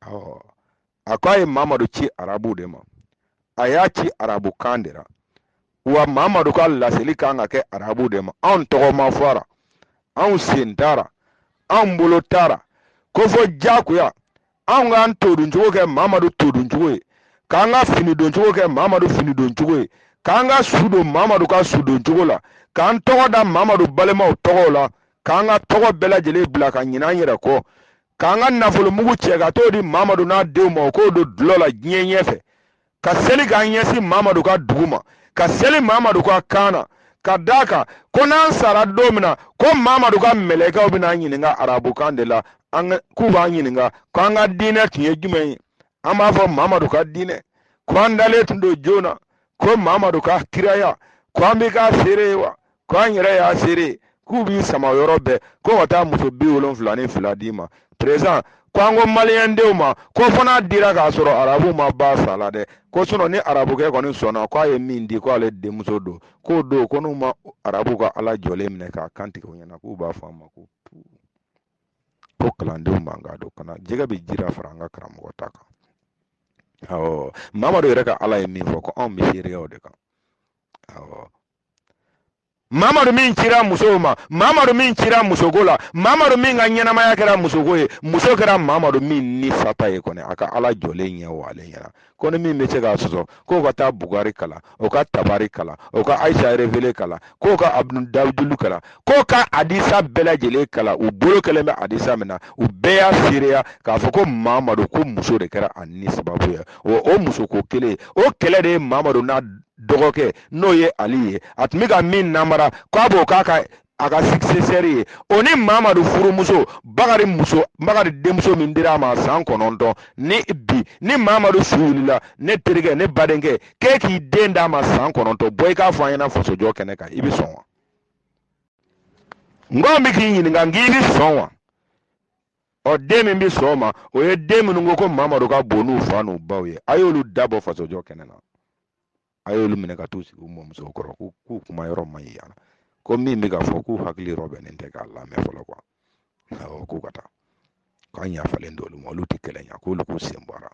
awɔ a ko a ye mamadu ci arabu de ma a y'a ci arabukan de la wa mamadu ka laseli kan ka kɛ arabu de ma anw tɔgɔ ma fɔ a ra anw sen t'a ra anw bolo t'a ra ko fo jagoya anw k'an toduncogo kɛ mamadu toduncogo ye k'an ka fini doncogo kɛ mamadu fini doncogo ye k'an ka su don mamadu ka su doncogo la k'an tɔgɔ da mamadu balimaw tɔgɔw la k'an ka tɔgɔ bɛɛ lajɛlen bila ka ɲinan an yɛrɛ kɔ k'an ka nafolomugu cɛ ka t'o di mamadu n'a denw ma o k'o don dɔlɔ la diɲɛ ɲɛfɛ ka seli k'an ɲɛsin mamadu ka dugu ma ka seli mamadu ka kan na ka d'a kan ko n'an sara don min na ko mamadu ka mɛlɛkɛw bɛna an ɲininka arabukan de la k'u b'an ɲininka ko an ka diinɛ tun ye jumɛn ye an b'a fɔ mamadu ka diinɛ ko an dalen tun don jɔn na ko mamadu ka kiraya ko an bɛ k'a seereya wa ko an yɛrɛ y'a seere k'u b'i sama yɔrɔ bɛɛ ko ka taa muso bi wolonfila ni fila d'i ma perezan ko an ko maliyɛndenw ma ko fo n'a dira k'a sɔrɔ arabu ma ba sa la dɛ ko sinɔ ni arabukɛ kɔni sɔnna k'a ye min di ko ale denmuso don k'o don ko n'u ma arabu ka ala jɔlen minɛ k'a kan tigɛ u ɲɛna k'u b'a fɔ a ma ko ko kalandenw man ka don kana jɛgɛ bɛ jira fara an ka karamɔgɔ ta kan awɔ mamadu yɛrɛ ka ala ye min fɔ ko anw bɛ seereya o de kan awɔ mamadu min cira musow ma mamadu min cira musoko la mamadu min ka ɲɛnamaya kɛra musoko ye muso kɛra mamadu min ni sata ye kɔni a ka ala jɔlen ɲɛ o ale ɲɛna ko ni min bɛ se k'a sɔsɔ k'o ka taa bukari kalan o ka tabari kalan o ka ayisa erevele kalan k'o ka abudul dawudulu kalan k'o ka adisa bɛɛ lajɛlen kalan u bolo kɛlen bɛ adisa min na u bɛɛ y'a seereya k'a fɔ ko mamadu ko muso de kɛra a ni sababu ye o o musoko kelen o kɛlɛ de ye mamadu n'a dɔgɔkɛ n'o ye ali ye a tun bɛ ka min namara k'a b'o k'a ka sikisɛsɛri ye o ni mamadu furumuso bakari muso bakari denmuso min dira a ma san kɔnɔntɔn ni bi ni mamadu su wulila ne terikɛ ne badenkɛ k'e k'i den d'a ma san kɔnɔntɔn bɔ i k'a fɔ an ɲɛna fasojɔ kɛnɛ kan i bɛ sɔn wa n k'an bɛ k'i ɲininka n k'i bɛ sɔn wa ɔ den min bɛ sɔn o ma o ye den minnu ko ko mamadu ka bon n'u fa n'u baw ye a y'olu dabɔ fasojɔ kɛnɛ na a y'olu minɛ ka t'u sigi u mɔmuso kɔrɔ k'u k'u kuma yɔrɔ man ɲi yan ko min bɛ ka fɔ k'u hakili yɔrɔ bɛnnen tɛ k'a lamɛn fɔlɔ kuwa awɔ k'u ka taa k'an yafalen don olu ma olu tɛ kɛlɛ ɲɛ k'olu k'u sen bɔ a la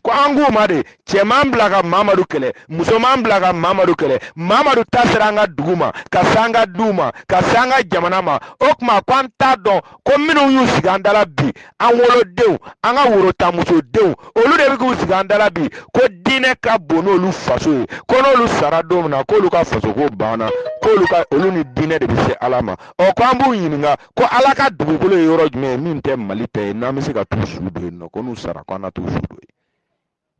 ko an k'u ma dɛ cɛman bila ka mamadu kɛlɛ musoman bila ka mamadu kɛlɛ mamadu ta sera an ka dugu ma ka se an ka duw ma ka se an ka jamana ma o tuma ko an t'a dɔn ko minnu y'u sigi an dala bi an wolodenw an ka worotamusodenw olu de bɛ k'u sigi an dala bi ko diinɛ ka bon n'olu faso ye ko n'olu sara don min na k'olu ka fasoko banna k'olu ni diinɛ de bɛ se ala ma ɔ ko an b'u ɲininka ko ala ka dugukolo ye yɔrɔ jumɛn ye min tɛ mali ta ye n'an bɛ se ka t'u su don yen nɔ ko n'u sara ko an na t'u su don yen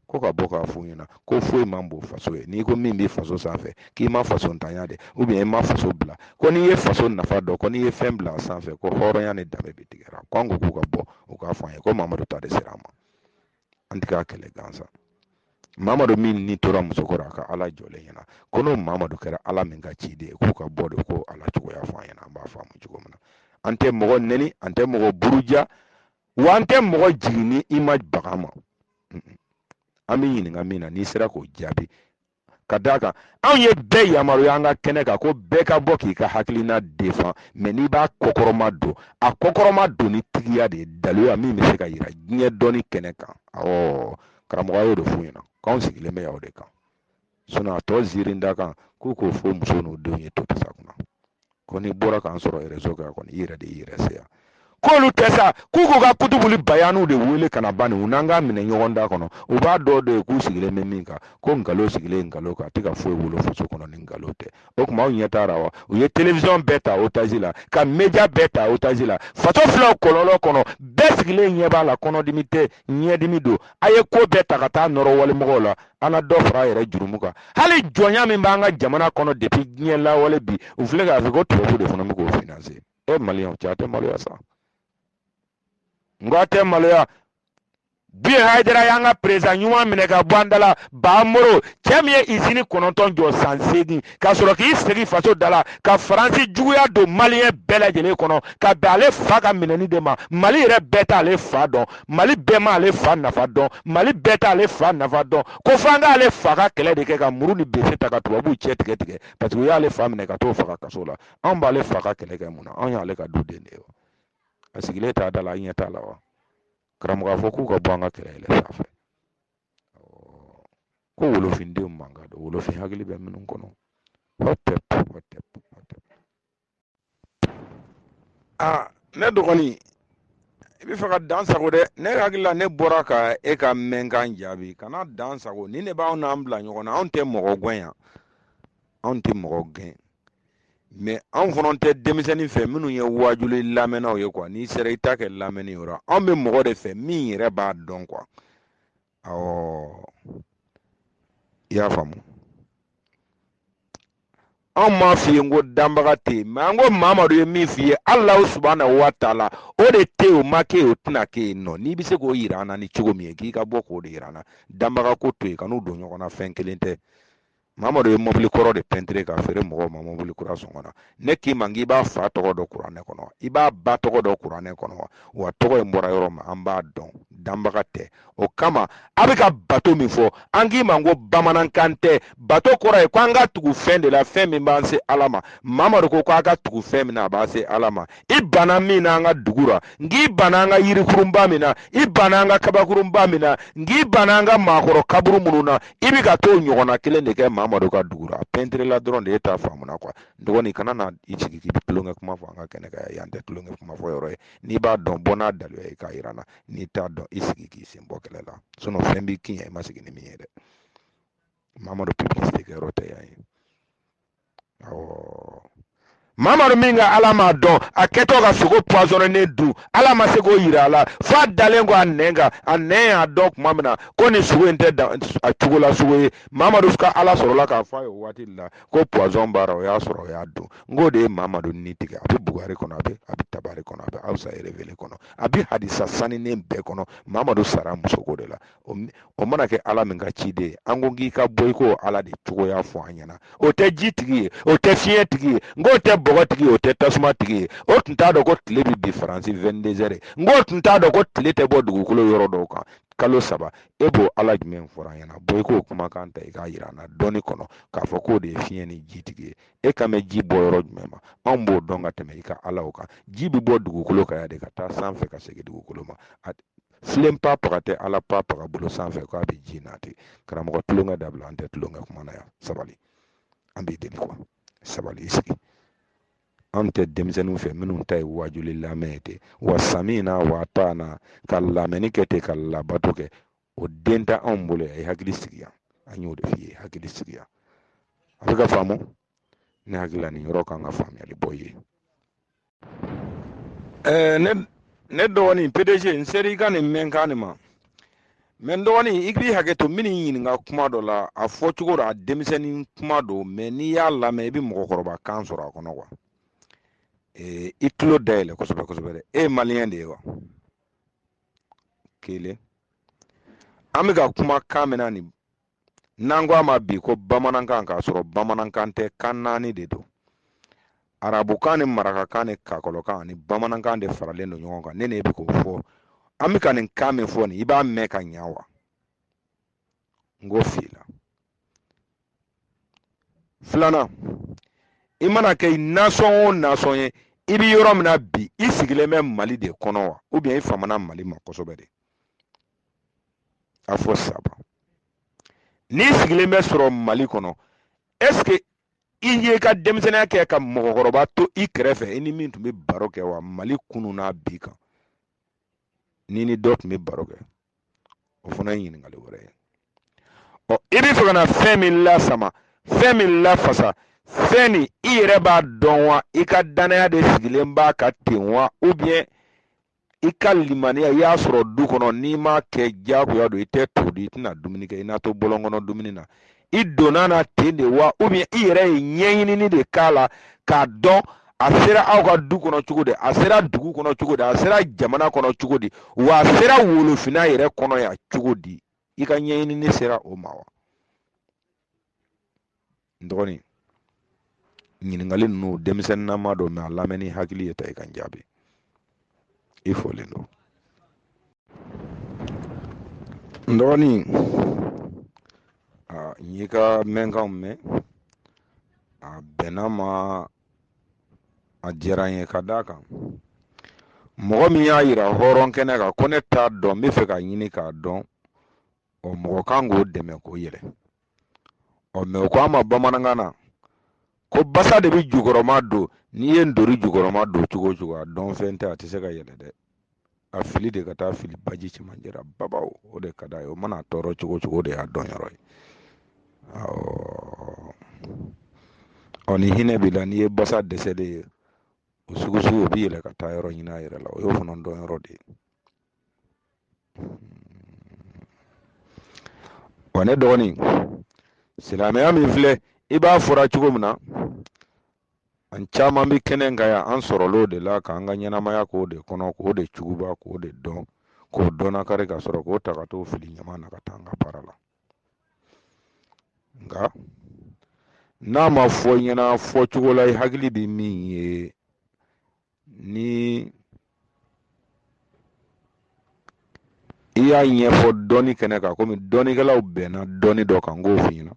ko ka bɔ k'a f'u ɲɛna ko foyi man bon faso ye n'i ko min bɛ faso sanfɛ k'i ma faso ntanya dɛ u bɛ i ma faso bila ko n'i ye faso nafa dɔn ko n'i ye fɛn bila a sanfɛ ko hɔrɔnya ni danbe bɛɛ tigɛra ko an ko k'u ka bɔ u k'a fɔ an ye ko mamadu ta de sera an ma an tɛ k'a kɛlɛ gansan mamadu min ni tora muso kɔrɔ a ka ala jɔlen ɲɛna ko n'o mamadu kɛra ala min ka ciden ye k'u ka bɔ dɛ k'o ala cogoya fɔ an ɲɛna an b'a faamu cogo min na an tɛ mɔgɔ nɛni an tɛ mɔgɔ buruja wa an tɛ mɔgɔ jigin ni i ma baga an ma an b'i ɲininka min na n'i sera k'o jaabi ka d'a kan anw ye bɛɛ yamaruya an ka kɛnɛ kan ko bɛɛ ka bɔ k'i ka hakilina defan mɛ n'i b'a kɔkɔrɔma don a kɔkɔrɔma don ni tigiya de ye daliluya min bɛ se ka yira diɲɛ dɔnni kɛnɛ kan awɔ karamɔgɔ y'o de f'u ɲɛna k'anw sigilen bɛ yan de kan sinɔn a tɔ ziirin da kan k'u k'o f'u muso n'u denw ye to pasa kunna ko n'i bɔra k'an sɔrɔ rezo kan kɔni i yɛrɛ de y'i yɛrɛ se yan k'olu tɛ sa k'u k'u ka kutubuli bayaniw de wele ka na bani u n'an k'a minɛ ɲɔgɔn da kɔnɔ u b'a dɔn dɔ ye k'u sigilen bɛ min kan ko nkalon sigilen nkalon kan a tɛ ka foyi wolo faso kɔnɔ ni nkalon tɛ o tuma aw ɲɛ taara wa u ye telewisɔn bɛɛ ta otazi la ka media bɛɛ ta otazi la faso filaw kɔlɔlɔ kɔnɔ bɛɛ sigilen ɲɛ b'a la kɔnɔdimi tɛ ɲɛdimi don a ye ko bɛɛ ta ka taa nɔrɔ walimɔgɔw la an ka dɔ fara yɛrɛ jurumu kan hali jɔnya min b'an ka jamana kɔnɔ depuis diɲɛ lawale bi u filɛ k'a fɔ ko tubabu de fana bɛ k'o finanse e maliyɛnw cɛ a tɛ maloya sa n ko a tɛ maloya bi hayidara y'an ka perezidan ɲuman minɛ ka bɔ an da la baa moro cɛ min ye izini kɔnɔntɔn jɔ san seegin ka sɔrɔ k'i sigi faso da la ka faransi juguya don maliyɛn bɛɛ lajɛlen kɔnɔ ka bɛn ale fa ka minɛni de ma mali yɛrɛ bɛɛ t'ale fa dɔn mali bɛɛ ma ale fa nafa dɔn mali bɛɛ t'ale fa nafa dɔn ko f'an k'ale fa ka kɛlɛ de kɛ ka muru ni bese ta ka tubabuw cɛ tigɛ tigɛ parce que u y'ale fa minɛ ka t'o faga kaso la anw b'ale fa ka kɛlɛ kɛ mun na anw y'ale ka duden de ye wa a sigilen t'a da la an ɲɛ t'a la wa karamɔgɔ a fɔ k'u ka bɔ an ka kɛlɛ yɛlɛ sanfɛ ko wolofindenw mankan don wolofin hakili bɛ minnu kɔnɔ hɔtɛp hɔtɛp hɔtɛp a ne dɔgɔnin i bɛ fɛ ka dan sagon dɛ ne hakili la ne bɔra ka e ka mɛnkan jaabi kana dan sagon nin de b'aw n'an bila ɲɔgɔn na anw tɛ mɔgɔ gɛn yan anw tɛ mɔgɔ gɛn mɛ anw fana tɛ denmisɛnnin fɛ minnu ye wajuli lamɛnnaw ye kuwa n'i sera i t'a kɛ lamɛnni yɔrɔ anw bɛ mɔgɔ de fɛ min yɛrɛ b'a dɔn kuwa awɔ i y'a faamu anw m'a f'i ye n ko danbaga tɛ yen mɛ an ko mamadu ye min f'i ye alahu subahana wa taala o de tɛ yen o ma kɛ yen o tɛna kɛ yen nɔ n'i bɛ se k'o yira an na ni cogo min ye k'i ka bɔ k'o de yira an na danbaga ko to yen kan'u don ɲɔgɔn na fɛn kelen tɛ mamadu ye mɔbili kɔrɔ de pɛntire k'a feere mɔgɔw ma mɔbili kura sɔngɔ na ne k'i ma k'i b'a fa tɔgɔ dɔn kuranɛ kɔnɔ i b'a ba tɔgɔ dɔn kuranɛ kɔnɔ wa tɔgɔ in bɔra yɔrɔ min an b'a dɔn danbaga tɛ o kama a bɛ ka bato min fɔ an k'i ma ko bamanankan tɛ bato kɔrɔ ye ko an ka tugu fɛn de la fɛn min b'an se ala ma mamadu ko ko a ka tugu fɛn min na a b'a se ala ma i banna min na an ka dugu la n k'i banna an ka yirikurunba min na i banna an ka kabakurunba min na n k'i banna an ka maakɔrɔ kaburu minnu na i bɛ ka t'o ɲɔgɔnna kelen de kɛ mamadu ka dugu la pɛntiri la dɔrɔn de e t'a faamuna kuwa dɔgɔnin kana na i jigi k'i bɛ tulonkɛ kuma fɔ an ka kɛnɛ kan yan tɛ tulonkɛ kuma fɔ yɔrɔ ye n'i b'a dɔn bɔ n'a daluya ye k'a yira n na n'i t'a dɔn i sigi k'i sen bɔ kɛlɛ la sinɔn fɛn b'i kin yan i ma sigi ni min ye dɛ mamadu publicité kɛyɔrɔ tɛ yan ye mamadu min ka ala m'a dɔn a kɛtɔ ka sogo pɔsɔnɛnen dun ala ma se k'o yira a la f'a dalen kɔ a nɛn kan a nɛn y'a dɔn tuma min na ko nin sogo in tɛ dan a cogo la sogo ye mamadu ka ala sɔrɔla k'a fɔ a ye o waati de la ko pɔsɔn b'a la o y'a sɔrɔ o y'a dun n k'o de ye mamadu ni tigɛ a bɛ bukari kɔnɔ a bɛ a bɛ tabari kɔnɔ a bɛ awusa erevele kɔnɔ a bɛ hadisa saninen bɛɛ kɔnɔ mamadu sara musoko de la o mana kɛ ala min ka ciden ye an ko k'i ka bɔ i k'o ala de cogoya fɔ an ɲɛna o tɛ ji tigi ye o tɛ fiɲɛ tigi ye n k'o tɛ bɔgɔ tigi ye o tɛ tasuma tigi ye o tun t'a dɔn ko tile bɛ bi faransi wɛndezɛri n k'o tun t'a dɔn ko tile tɛ bɔ dugukolo yɔrɔ dɔw kan kalo saba e b'o ala jumɛn fɔra an ɲɛna bɔ i k'o kumakan ta i k'a yira an na dɔɔni kɔnɔ k'a fɔ k'o de ye fiɲɛ ni ji tigi ye e kan bɛ ji bɔ yɔrɔ jumɛn ma anw b'o dɔn ka tɛmɛ i ka alaw kan ji bɛ bɔ dugukolo kan yan de ka taa sanfɛ ka segin dugukolo ma filen pa paga tɛ ala pa paga bolo sanfɛ ko a bɛ ji n'a tɛ karamɔgɔ tulonkɛ dabila an tɛ tulonkɛ kuma na yan sabali an b'i deli kuwa sabali i sigi an tɛ denmisɛnninw fɛ minnu ta ye waajuli lamɛn ye ten wa samina wa tana ka lamɛnni kɛ ten ka labato kɛ o de t'anw bolo yan i hakili sigi yan an y'o de f'i ye hakili sigi yan a bɛ ka faamu ne hakili la nin yɔrɔ kan ka faamuyali bɔ ye ɛɛ ne ne dɔgɔnin pdg n seri i ka nin mɛn kan nin ma mɛn n dɔgɔnin i k'i hakɛ to n b'i ɲininka kuma dɔ la a fɔ cogo don a denmisɛnnin kuma don mɛ n'i y'a lamɛn i bɛ mɔgɔkɔrɔba kan sɔrɔ a kɔnɔ kuwa ee i tulo dayɛlɛ kosɛbɛ kosɛbɛ dɛ e ye maliyɛn de ye wa kelen an bɛ ka kuma kan min na nin n'an ko a ma bi ko bamanankan k'a sɔrɔ bamanankan tɛ kan naani de don arabukan ni marakakan ni kakɔlɔkan ani bamanankan de faralen don ɲɔgɔn kan ne ne bɛ k'o fɔ an bɛ ka nin kan min fɔ nin i b'a mɛn ka ɲa wa n ko f'i la filanan i mana kɛ nasɔn o nasɔn ye i bɛ yɔrɔ min na bi i sigilen bɛ mali de kɔnɔ wa i famana mali ma kosɛbɛ de a fɔ sabu n'i sigilen bɛ sɔrɔ mali kɔnɔ ɛseke i y'i ka denmisɛnninya kɛ ka mɔgɔkɔrɔba to i kɛrɛfɛ i ni min tun bɛ baro kɛ wa mali kunun n'a bi kan n'i ni dɔ tun bɛ baro kɛ o fana ye ɲininkali wɛrɛ ye ɔ i bɛ fɛ ka na fɛn min lasama fɛn min lafasa fɛn nin i yɛrɛ b'a dɔn wa i ka dannaya de sigilen b'a kan ten wa ubiyɛn i ka limaniya i y'a sɔrɔ du kɔnɔ n'i m'a kɛ diyagoya don i tɛ to dun i tɛna dumuni kɛ i na to bɔlɔn kɔnɔ dumuni na i donn'a na ten de wa i yɛrɛ ye ɲɛɲinini de k'a la k'a dɔn a sera aw ka du kɔnɔ cogo di a sera dugu kɔnɔ cogo di a sera jamana kɔnɔ cogo di wa a sera wolofinna yɛrɛ kɔnɔ yan cogo di i ka ɲɛɲinini sera o ma wa n dɔgɔnin ɲininkali ninnu denmisɛnninnama don mɛ a lamɛn ni hakili ye ta i ka n jaabi i folen don n dɔgɔnin n y'i ka mɛnkanw mɛn a bɛnna n ma a diyara n ye ka d'a kan mɔgɔ min y'a yira hɔrɔn kɛnɛ kan ko ne t'a dɔn n bɛ fɛ k'a ɲini k'a dɔn ɔ mɔgɔ kan k'o dɛmɛ k'o yɛlɛ ɔ mɛ o ko an ma bamanankan na ko basa de bɛ jukɔrɔmadon n'i ye ntori jukɔrɔmadon cogo o cogo a dɔnfɛn tɛ a tɛ se ka yɛlɛ dɛ a fili de ka t'a fili baji cɛmancɛ la bawo o de ka d'a ye o mana tɔɔrɔ cogo o cogo o de y'a dɔn yɔrɔ ye awɔ ɔ ni hinɛ b'i la n'i ye basa dɛsɛlen ye o sugu sugu o bɛ yɛlɛ ka taa yɔrɔ ɲini a yɛrɛ la o y'o fana dɔn yɔrɔ de ye wa ne dɔgɔnin silamɛya min filɛ i b'a fɔla cogo min na an caman bɛ kɛnɛ kan yan an sɔrɔl'o de la k'an ka ɲɛnamaya k'o de kɔnɔ k'o de juguba k'o de dɔn k'o dɔnnakari ka sɔrɔ k'o ta ka t'o fili ɲaman na ka taa an ka baara la nka n'a ma f'i ɲɛna fɔcogo la i hakili bɛ min ye ni i y'a ɲɛfɔ dɔnni kɛnɛ kan komi dɔnnikɛlaw bɛnna dɔnni dɔ kan n k'o f'i ɲɛna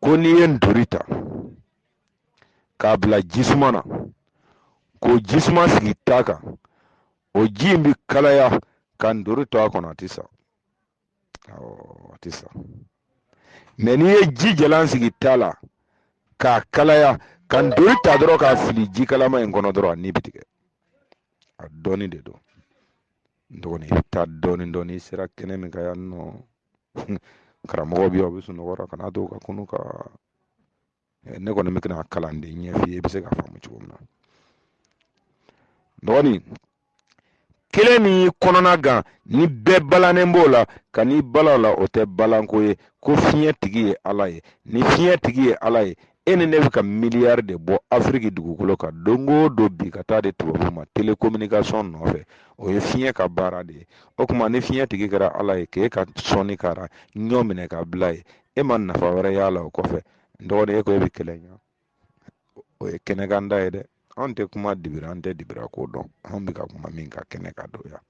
ko n'i ye ntori ta k'a bila jisuma na k'o jisuma sigi ta kan o ji in bi kalaya ka ntori to a kɔnɔ a tɛ sa a tɛ sa mɛ n'i ye ji jalan sigi ta la k'a kalaya ka ntori ta dɔrɔn k'a fili ji kalama in kɔnɔ dɔrɔn a ni bɛ tigɛ a dɔɔni de don n dɔgɔnin i bɛ taa dɔɔni dɔɔni i sera kɛnɛ min kan yan nɔ karamɔgɔ bɛ yan o bɛ sunɔgɔ la kan'a to ka kunun ka ne kɔni bɛ kɛnɛ kalan de ɲɛf'i ye i bɛ se k'a faamu cogo min na dɔgɔnin kelen min y'i kɔnɔna gan nin bɛɛ balannen b'o la kan'i balan a la o tɛ balanko ye ko fiɲɛ tigi ye ala ye ni fiɲɛ tigi ye ala ye e ni ne bɛ ka miliyari de bɔ afiriki dugukolo kan don o don bi ka taa di tubabu ma telekominikasɔn nɔfɛ o ye fiɲɛ ka baara de ye o tuma ni fiɲɛ tigi kɛra ala ye k'e ka sɔnni kara ɲɔ minɛ ka bila yen e ma nafa wɛrɛ y'a la o kɔfɛ dɔgɔnin e ko e bɛ kɛlɛ ɲa o ye kɛnɛkanda ye dɛ anw tɛ kuma dibi ra an tɛ dibi ra ko dɔn anw bɛ ka kuma min kan kɛnɛ kan don yan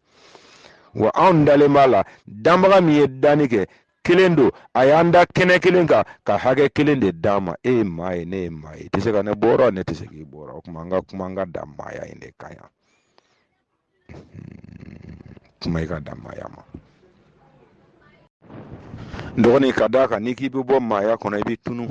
wa anw dalen b'a la danbaga min ye danni kɛ kelen don a y'an da kɛnɛ kelen kan ka hakɛ kelen de d'an ma e ye maa ye ne ye maa ye i tɛ se ka ne bɔ a ra ne tɛ se k'i bɔ a ra o tuma an ka kuma an ka dan maaya in de kan yan kuma i ka dan maaya ma dɔgɔnin ka d'a kan n'i k'i bɛ bɔ maaya kɔnɔ i bɛ tunu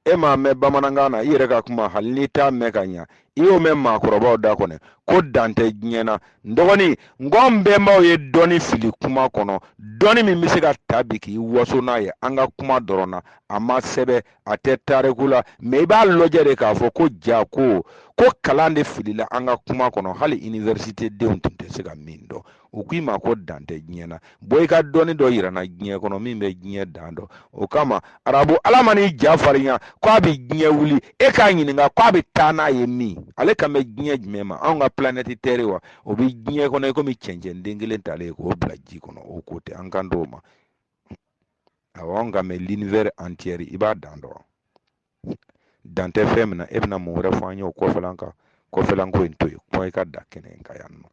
e m'a mɛn bamanankan na i yɛrɛ ka kuma hali n'i t'a mɛn ka ɲa i y'o mɛn maakɔrɔbaw da kɔnɔ ko dan tɛ diɲɛ na n dɔgɔnin n ko n bɛnbaw ye dɔnni fili kuma kɔnɔ dɔnni min bɛ se ka taa bi k'i waso n'a ye an ka kuma dɔrɔn na a ma sɛbɛn a tɛ tariku la mɛ i b'a lajɛ de k'a fɔ ko jaa ko ko kalan de filila an ka kuma kɔnɔ hali iniversite denw tun tɛ se ka min dɔn u k'i ma ko dan tɛ diɲɛ na bɔ i ka dɔnni dɔ yira n na diɲɛ kɔnɔ min bɛ diɲɛ dan dɔn o kama arabu ala man'i ja farinya ko a bɛ diɲɛ wuli e k'a ɲininka ko a bɛ taa n'a ye min ale kan bɛ diɲɛ jumɛn ma anw ka planɛti tɛri wa o bɛ diɲɛ kɔnɔ i komi cɛncɛn den kelen talen k'o bila ji kɔnɔ o ko tɛ an kan dɔw ma awɔ nka mɛ linivɛri antiyɛri i b'a dan dɔn dan tɛ fɛn min na e bɛna mun wɛrɛ fɔ an ye o kɔfɛlan kan kɔfɛlan ko in to yen kuma i ka da kɛnɛ in kan yan nɔ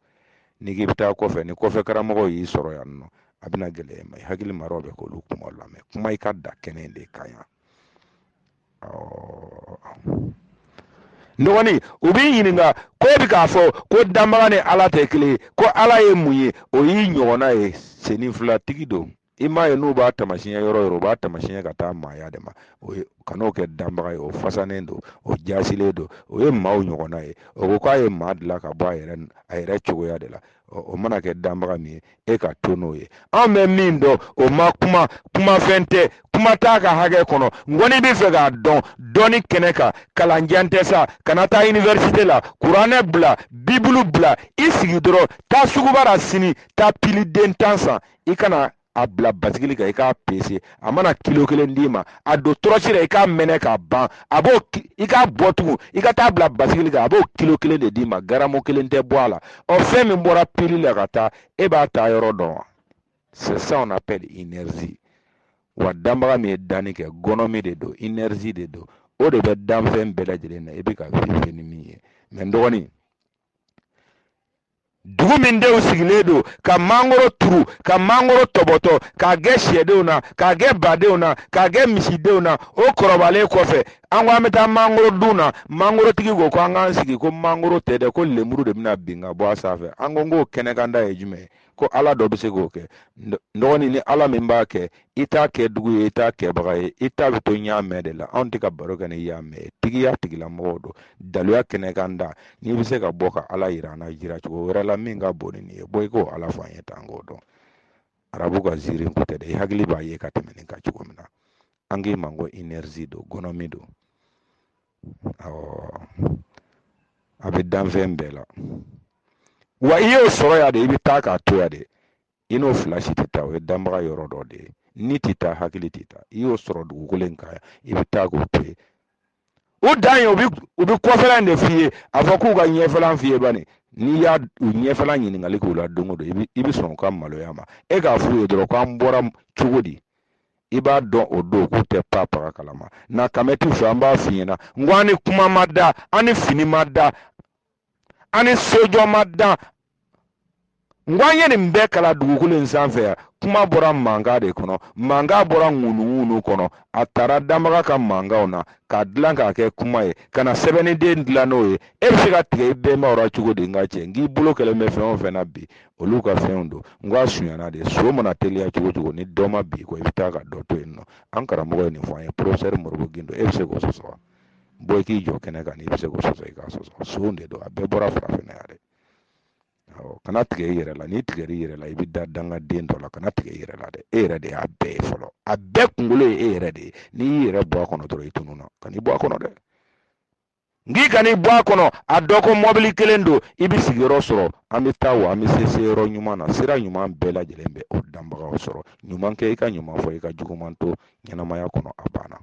n'i k'i bɛ taa kɔfɛ ni kɔfɛ karamɔgɔ y'i sɔrɔ yan nɔ a bɛna gɛlɛya i ma i hakili maraw bɛ k'olu kuma lamɛn kuma i ka da kɛnɛ in de kan yan dɔgɔnin u b'i ɲininka ko bi k'a fɔ ko danbaga ni ala tɛ kelen ko ala ye mun ye o y'i ɲɔgɔnna ye sennin filatigi don i m'a ye n'u b'a tamasiɲɛ yɔrɔ yɔrɔ u b'a tamasiɲɛ ka taa maaya de ma o ye kan'o kɛ danbaga ye o fasanen don o jasilen don o ye maaw ɲɔgɔnna ye o ko k'a ye maa dilan ka bɔ a yɛrɛ a yɛrɛ cogoya de la o mana kɛ danbaga min ye e ka to n'o ye anw bɛ min dɔn o ma kuma kumafɛn tɛ kuma t'a ka hakɛ kɔnɔ n'i kɔni b'a fɛ k'a dɔn dɔɔni kɛnɛ kan kalanjan tɛ sa kana taa iniversite la kuranɛ bila bibulu bila i sigi dɔrɔn taa suguba la sini taa piliden tan san i kana a bila basigili kan i k'a pese a mana kilo kelen d'i ma a don tɔrɔsi la i k'a mɛnɛ k'a ban a b'o i k'a bɔ tugun i ka taa bila basigili kan a b'o kilo kelen de d'i ma garamu kelen tɛ bɔ a la ɔ fɛn min bɔra pili la ka taa e b'a ta yɔrɔ dɔn wa c'est ça on appelle énergie wa danbaga min ye danni kɛ gɔnɔmi de don énergie de don o de bɛ danfɛn bɛɛ lajɛlen na i bɛ ka vive ni min ye mɛ n dɔgɔnin dugu min denw sigilen don ka mangoro turu ka mangoro tɔbɔtɔ k'a kɛ syɛdenw na k'a kɛ badenw na k'a kɛ misidenw na o kɔrɔbalen kɔfɛ an ko an bɛ taa mangoro dun na mangorotigi ko ko an k'an sigi ko mangoro tɛ dɛ ko lemuru de bɛna bin ka bɔ a sanfɛ an ko k'o kɛnɛkanda ye jumɛn ye ko ala dɔ bɛ se k'o kɛ n dɔgɔnin ni ala min b'a kɛ i t'a kɛdugu ye i t'a kɛbaga ye i ta bɛ to n y'a mɛn de la anw tɛ ka baro kɛ ni y'a mɛn tigiya tigilamɔgɔw don daluya kɛnɛ kan da n'i bɛ se ka bɔ ka ala yira an na jira cogo wɛrɛ la min ka bon nin ye bɔ i k'o ala fɔ an ye tan k'o dɔn arabu ka ziirin ko tɛ dɛ i hakili b'a ye ka tɛmɛ nin kan cogo min na an k'i ma ko inɛrizi don gɔnɔmi don awɔ a bɛ danfɛn bɛɛ la wa i y'o sɔrɔ yan de i bɛ taa k'a to yan de i n'o fila si tɛ taa o ye danbaga yɔrɔ dɔ de ye ni tɛ taa hakili tɛ taa i y'o sɔrɔ dugukolo in kan i bɛ taa k'o to yen u dan ye u bɛ u bɛ kɔfɛla in de f'i ye a fɔ k'u ka ɲɛfɛla f'i ye bani n'i y'a u ɲɛfɛla ɲininkali k'u la don o don i bɛ i bɛ sɔn u ka maloya ma e k'a f'u ye dɔrɔn k'an bɔra cogo di i b'a dɔn o don k'u tɛ pa paga kalama na kamɛ t'u fɛ an b'a f'i ɲɛna n ko an ni kuma ma dan an ni fini ma dan an ni sojɔ ma dan n ko an ye nin bɛɛ kalan dugukolo in sanfɛ yan kuma bɔra mankan de kɔnɔ mankan bɔra ŋunuŋunu kɔnɔ a tara danbaga ka mankanw na k'a dilan k'a kɛ kuma ye ka na sɛbɛnniden dilan n'o ye e bɛ se ka tigɛ i bɛnbaw la cogo di n ka cɛ n k'i bolo kɛlen bɛ fɛn o fɛn na bi olu ka fɛnw don n ko a sunyana de son mana teliya cogo o cogo ni dɔ ma bin i kɔ i bɛ taa ka dɔ to yen nɔ an karamɔgɔ ye nin fɔ an ye porofesɛri modibo gindo e bɛ se k'o sɔsɔ wa bɔ i k'i jɔ kɛnɛ kan n'i bɛ se k'o sɔsɔ i k'a sɔsɔ son de don a bɛɛ bɔra farafinna yan dɛ awɔ kana tigɛ i yɛrɛ la n'i tigɛr'i yɛrɛ la i bɛ da dangaden dɔ la kana tigɛ i yɛrɛ la dɛ e yɛrɛ de y'a bɛɛ ye fɔlɔ a bɛɛ kunkolo ye e yɛrɛ de ye n'i y'i yɛrɛ bɔ a kɔnɔ dɔrɔn i tununna kan'i bɔ a kɔnɔ dɛ n'i kan'i bɔ a kɔnɔ a dɔn ko mɔbili kelen don i bɛ sigiyɔrɔ sɔrɔ an bɛ taa wa an bɛ se se yɔrɔ ɲuman na sira ɲuman bɛɛ lajɛlen bɛ o danbagaw sɔrɔ ɲuman kɛ i ka ɲuman fɔ i ka juguman to ɲɛnamaya kɔnɔ a banna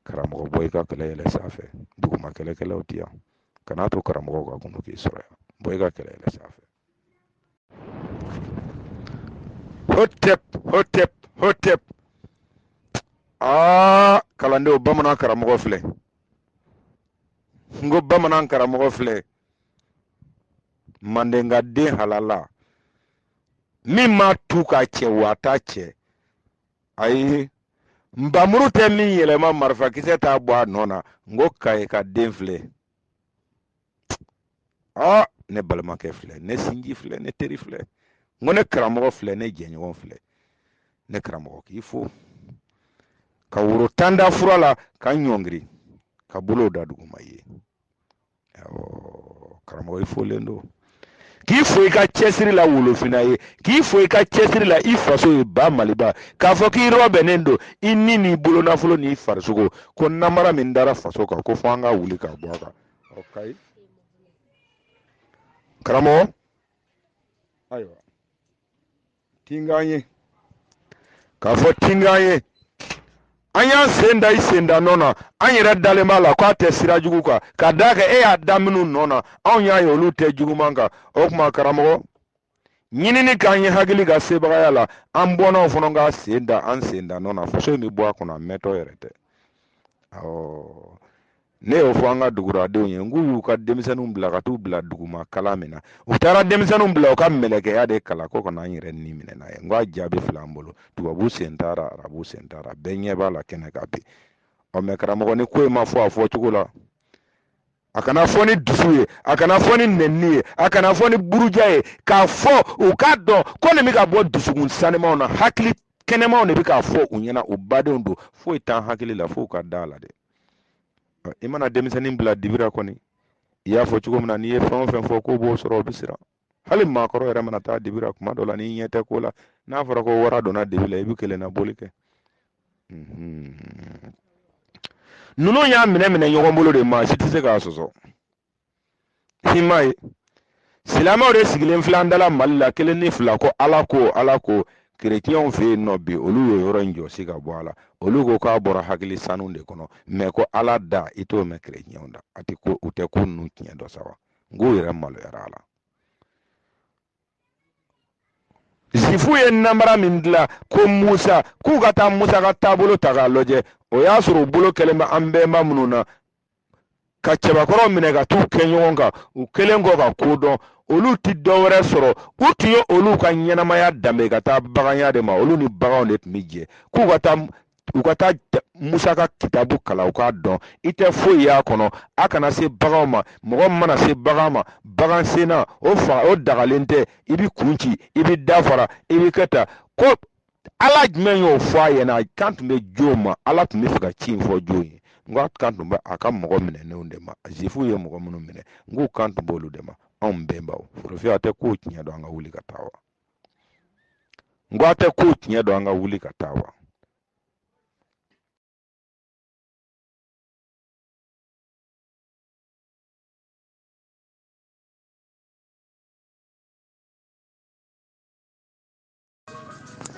karamɔgɔ bɔ i ka kɛlɛ yɛlɛ sanfɛ duguma kɛlɛkɛlaw bɛ yan kana to karamɔgɔw ka kunnu k'i sɔrɔ yan bɔ i ka kɛlɛ yɛlɛ sanfɛ hotep hotep hotep aa ah, kalandenw bamanan karamɔgɔ filɛ n ko bamanan karamɔgɔ filɛ mandenka den halala min ma tu k'a cɛ wa a t'a cɛ ayi npanmuru tɛ min yɛlɛma marifakisɛ t'a bɔ a nɔ na n ko kayika den filɛ aa ne balimakɛ filɛ ne sinji filɛ ne teri filɛ n ko ne karamɔgɔ filɛ ne jɛɲɔgɔn filɛ ne karamɔgɔ k'i fo ka woro tan da fura la ka n ɲɔngiri ka bolow da duguma ye karamɔgɔ i folen don k'i fo i ka cɛsiri la wolofinna ye k'i fo i ka cɛsiri la i faso ye ba maliba k'a fɔ k'i rɔbɛnnen don i ni n'i bolonafolo n'i farisogo ko namara min dara faso kan ko fo an ka wuli k'a bɔ a kan ɔ kayi karamɔgɔ ayiwa tinkan ye k'a fɔ tinkan ye an y'an sen da i sen da nɔ na an yɛrɛ dalen b'a la k'a tɛ sira jugu kan ka d'a kan e y'a da minnu nɔ na anw y'a ye olu tɛ juguman kan o tuma karamɔgɔ ɲinini k'an ye hakili ka sebagaya la an bɔnnaw fana ka sen da an sen da nɔ na faso in bɛ bɔ a kɔnɔ a mɛntɔ yɛrɛ tɛ awɔ ne y'o fɔ an ka duguradenw ye n k'u y'u ka denmisɛnninw bila ka t'u bila duguma kalan min na u taara denmisɛnninw bila u ka mɛlɛkɛya de kalan ko kana an yɛrɛ ni minɛ n'a ye n ko a jaabi filɛ an bolo tubabu sen taara arabu sen taara bɛɛ ɲɛ b'a la kɛnɛ kan bi ɔ mɛ karamɔgɔ ni ko in ma fɔ a fɔ cogo la a kana fɔ ni dusu ye a kana fɔ ni nɛnini ye a kana fɔ ni buruja ye k'a fɔ u k'a dɔn ko nin bɛ ka bɔ dusukun sanimaw na hakili kɛnɛmaw de bɛ k'a fɔ u ɲɛna u badenw don foyi t'an hakili la fo u ka da la dɛ i mana denmisɛnnin bila dibi ra kɔni i y'a fɔ cogo min na n'i ye fɛn o fɛn fɔ k'o b'o sɔrɔ o bɛ siran hali maakɔrɔ yɛrɛ mana taa dibi ra kuma dɔ la n'i ɲɛ tɛ ko la n'a fɔra ko wara donna dibi la i bɛ kelen na boli kɛ ninnu y'a minɛ minɛ ɲɔgɔn bolo de maa si tɛ se k'a sɔsɔ i m'a ye silamɛw de sigilen filɛ an da la mali la kelen ni fila ko ala ko ala ko kerecɛnw fɛ yen nɔ bi olu ye yɔrɔ in jɔsi k'a bɔ a la olu ko k'a bɔra hakili sanu de kɔnɔ mɛ ko ala da i t'o mɛn kerecɛnw da a tɛ ko u tɛ ko ninnu tiɲɛ dɔn sa wa n k'u yɛrɛ maloyara a la zifu ye namara min dilan ko musa k'u ka taa musa ka taabolo ta k'a lajɛ o y'a sɔrɔ u bolo kɛlen bɛ an bɛnba minnu na ka cɛbakɔrɔw minɛ ka t'u kɛ ɲɔgɔn kan u kɛlen kɔ ka ko dɔn olu tɛ dɔ wɛrɛ sɔrɔ u tun ye olu ka ɲɛnamaya danbe ka taa baganya de ma olu ni baganw de tun bɛ jɛ k'u ka taa u ka taa musa ka kitabu kalan u k'a dɔn i tɛ foyi y'a kɔnɔ a kana se baganw ma mɔgɔ mana se bagan ma bagan senna o fa o dagalen tɛ i b'i kun ci i b'i da fara i bi kɛ ta ko ala jumɛn y'o fɔ a ɲɛna a kan tun bɛ jɔn ma ala tun b'a fɛ ka ci in fɔ jɔn ye n k'a kan tun bɛ a ka mɔgɔ minɛnenw de ma zifuw ye mɔgɔ minnu minɛ n k'u kan tun b'olu de ma anw bɛnbaw forofiya tɛ ko tiɲɛ don an ka wuli ka taa wa n ko a tɛ ko tiɲɛ don an ka wuli ka taa wa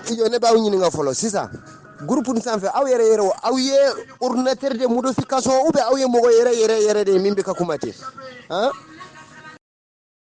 i jɔ ne b'aw ɲininka fɔlɔ sisan gurupu nin sanfɛ aw yɛrɛ yɛrɛ o aw ye ordinateur de modification ou bien aw ye mɔgɔ yɛrɛ yɛrɛ yɛrɛ de ye min bɛ ka kuma ten han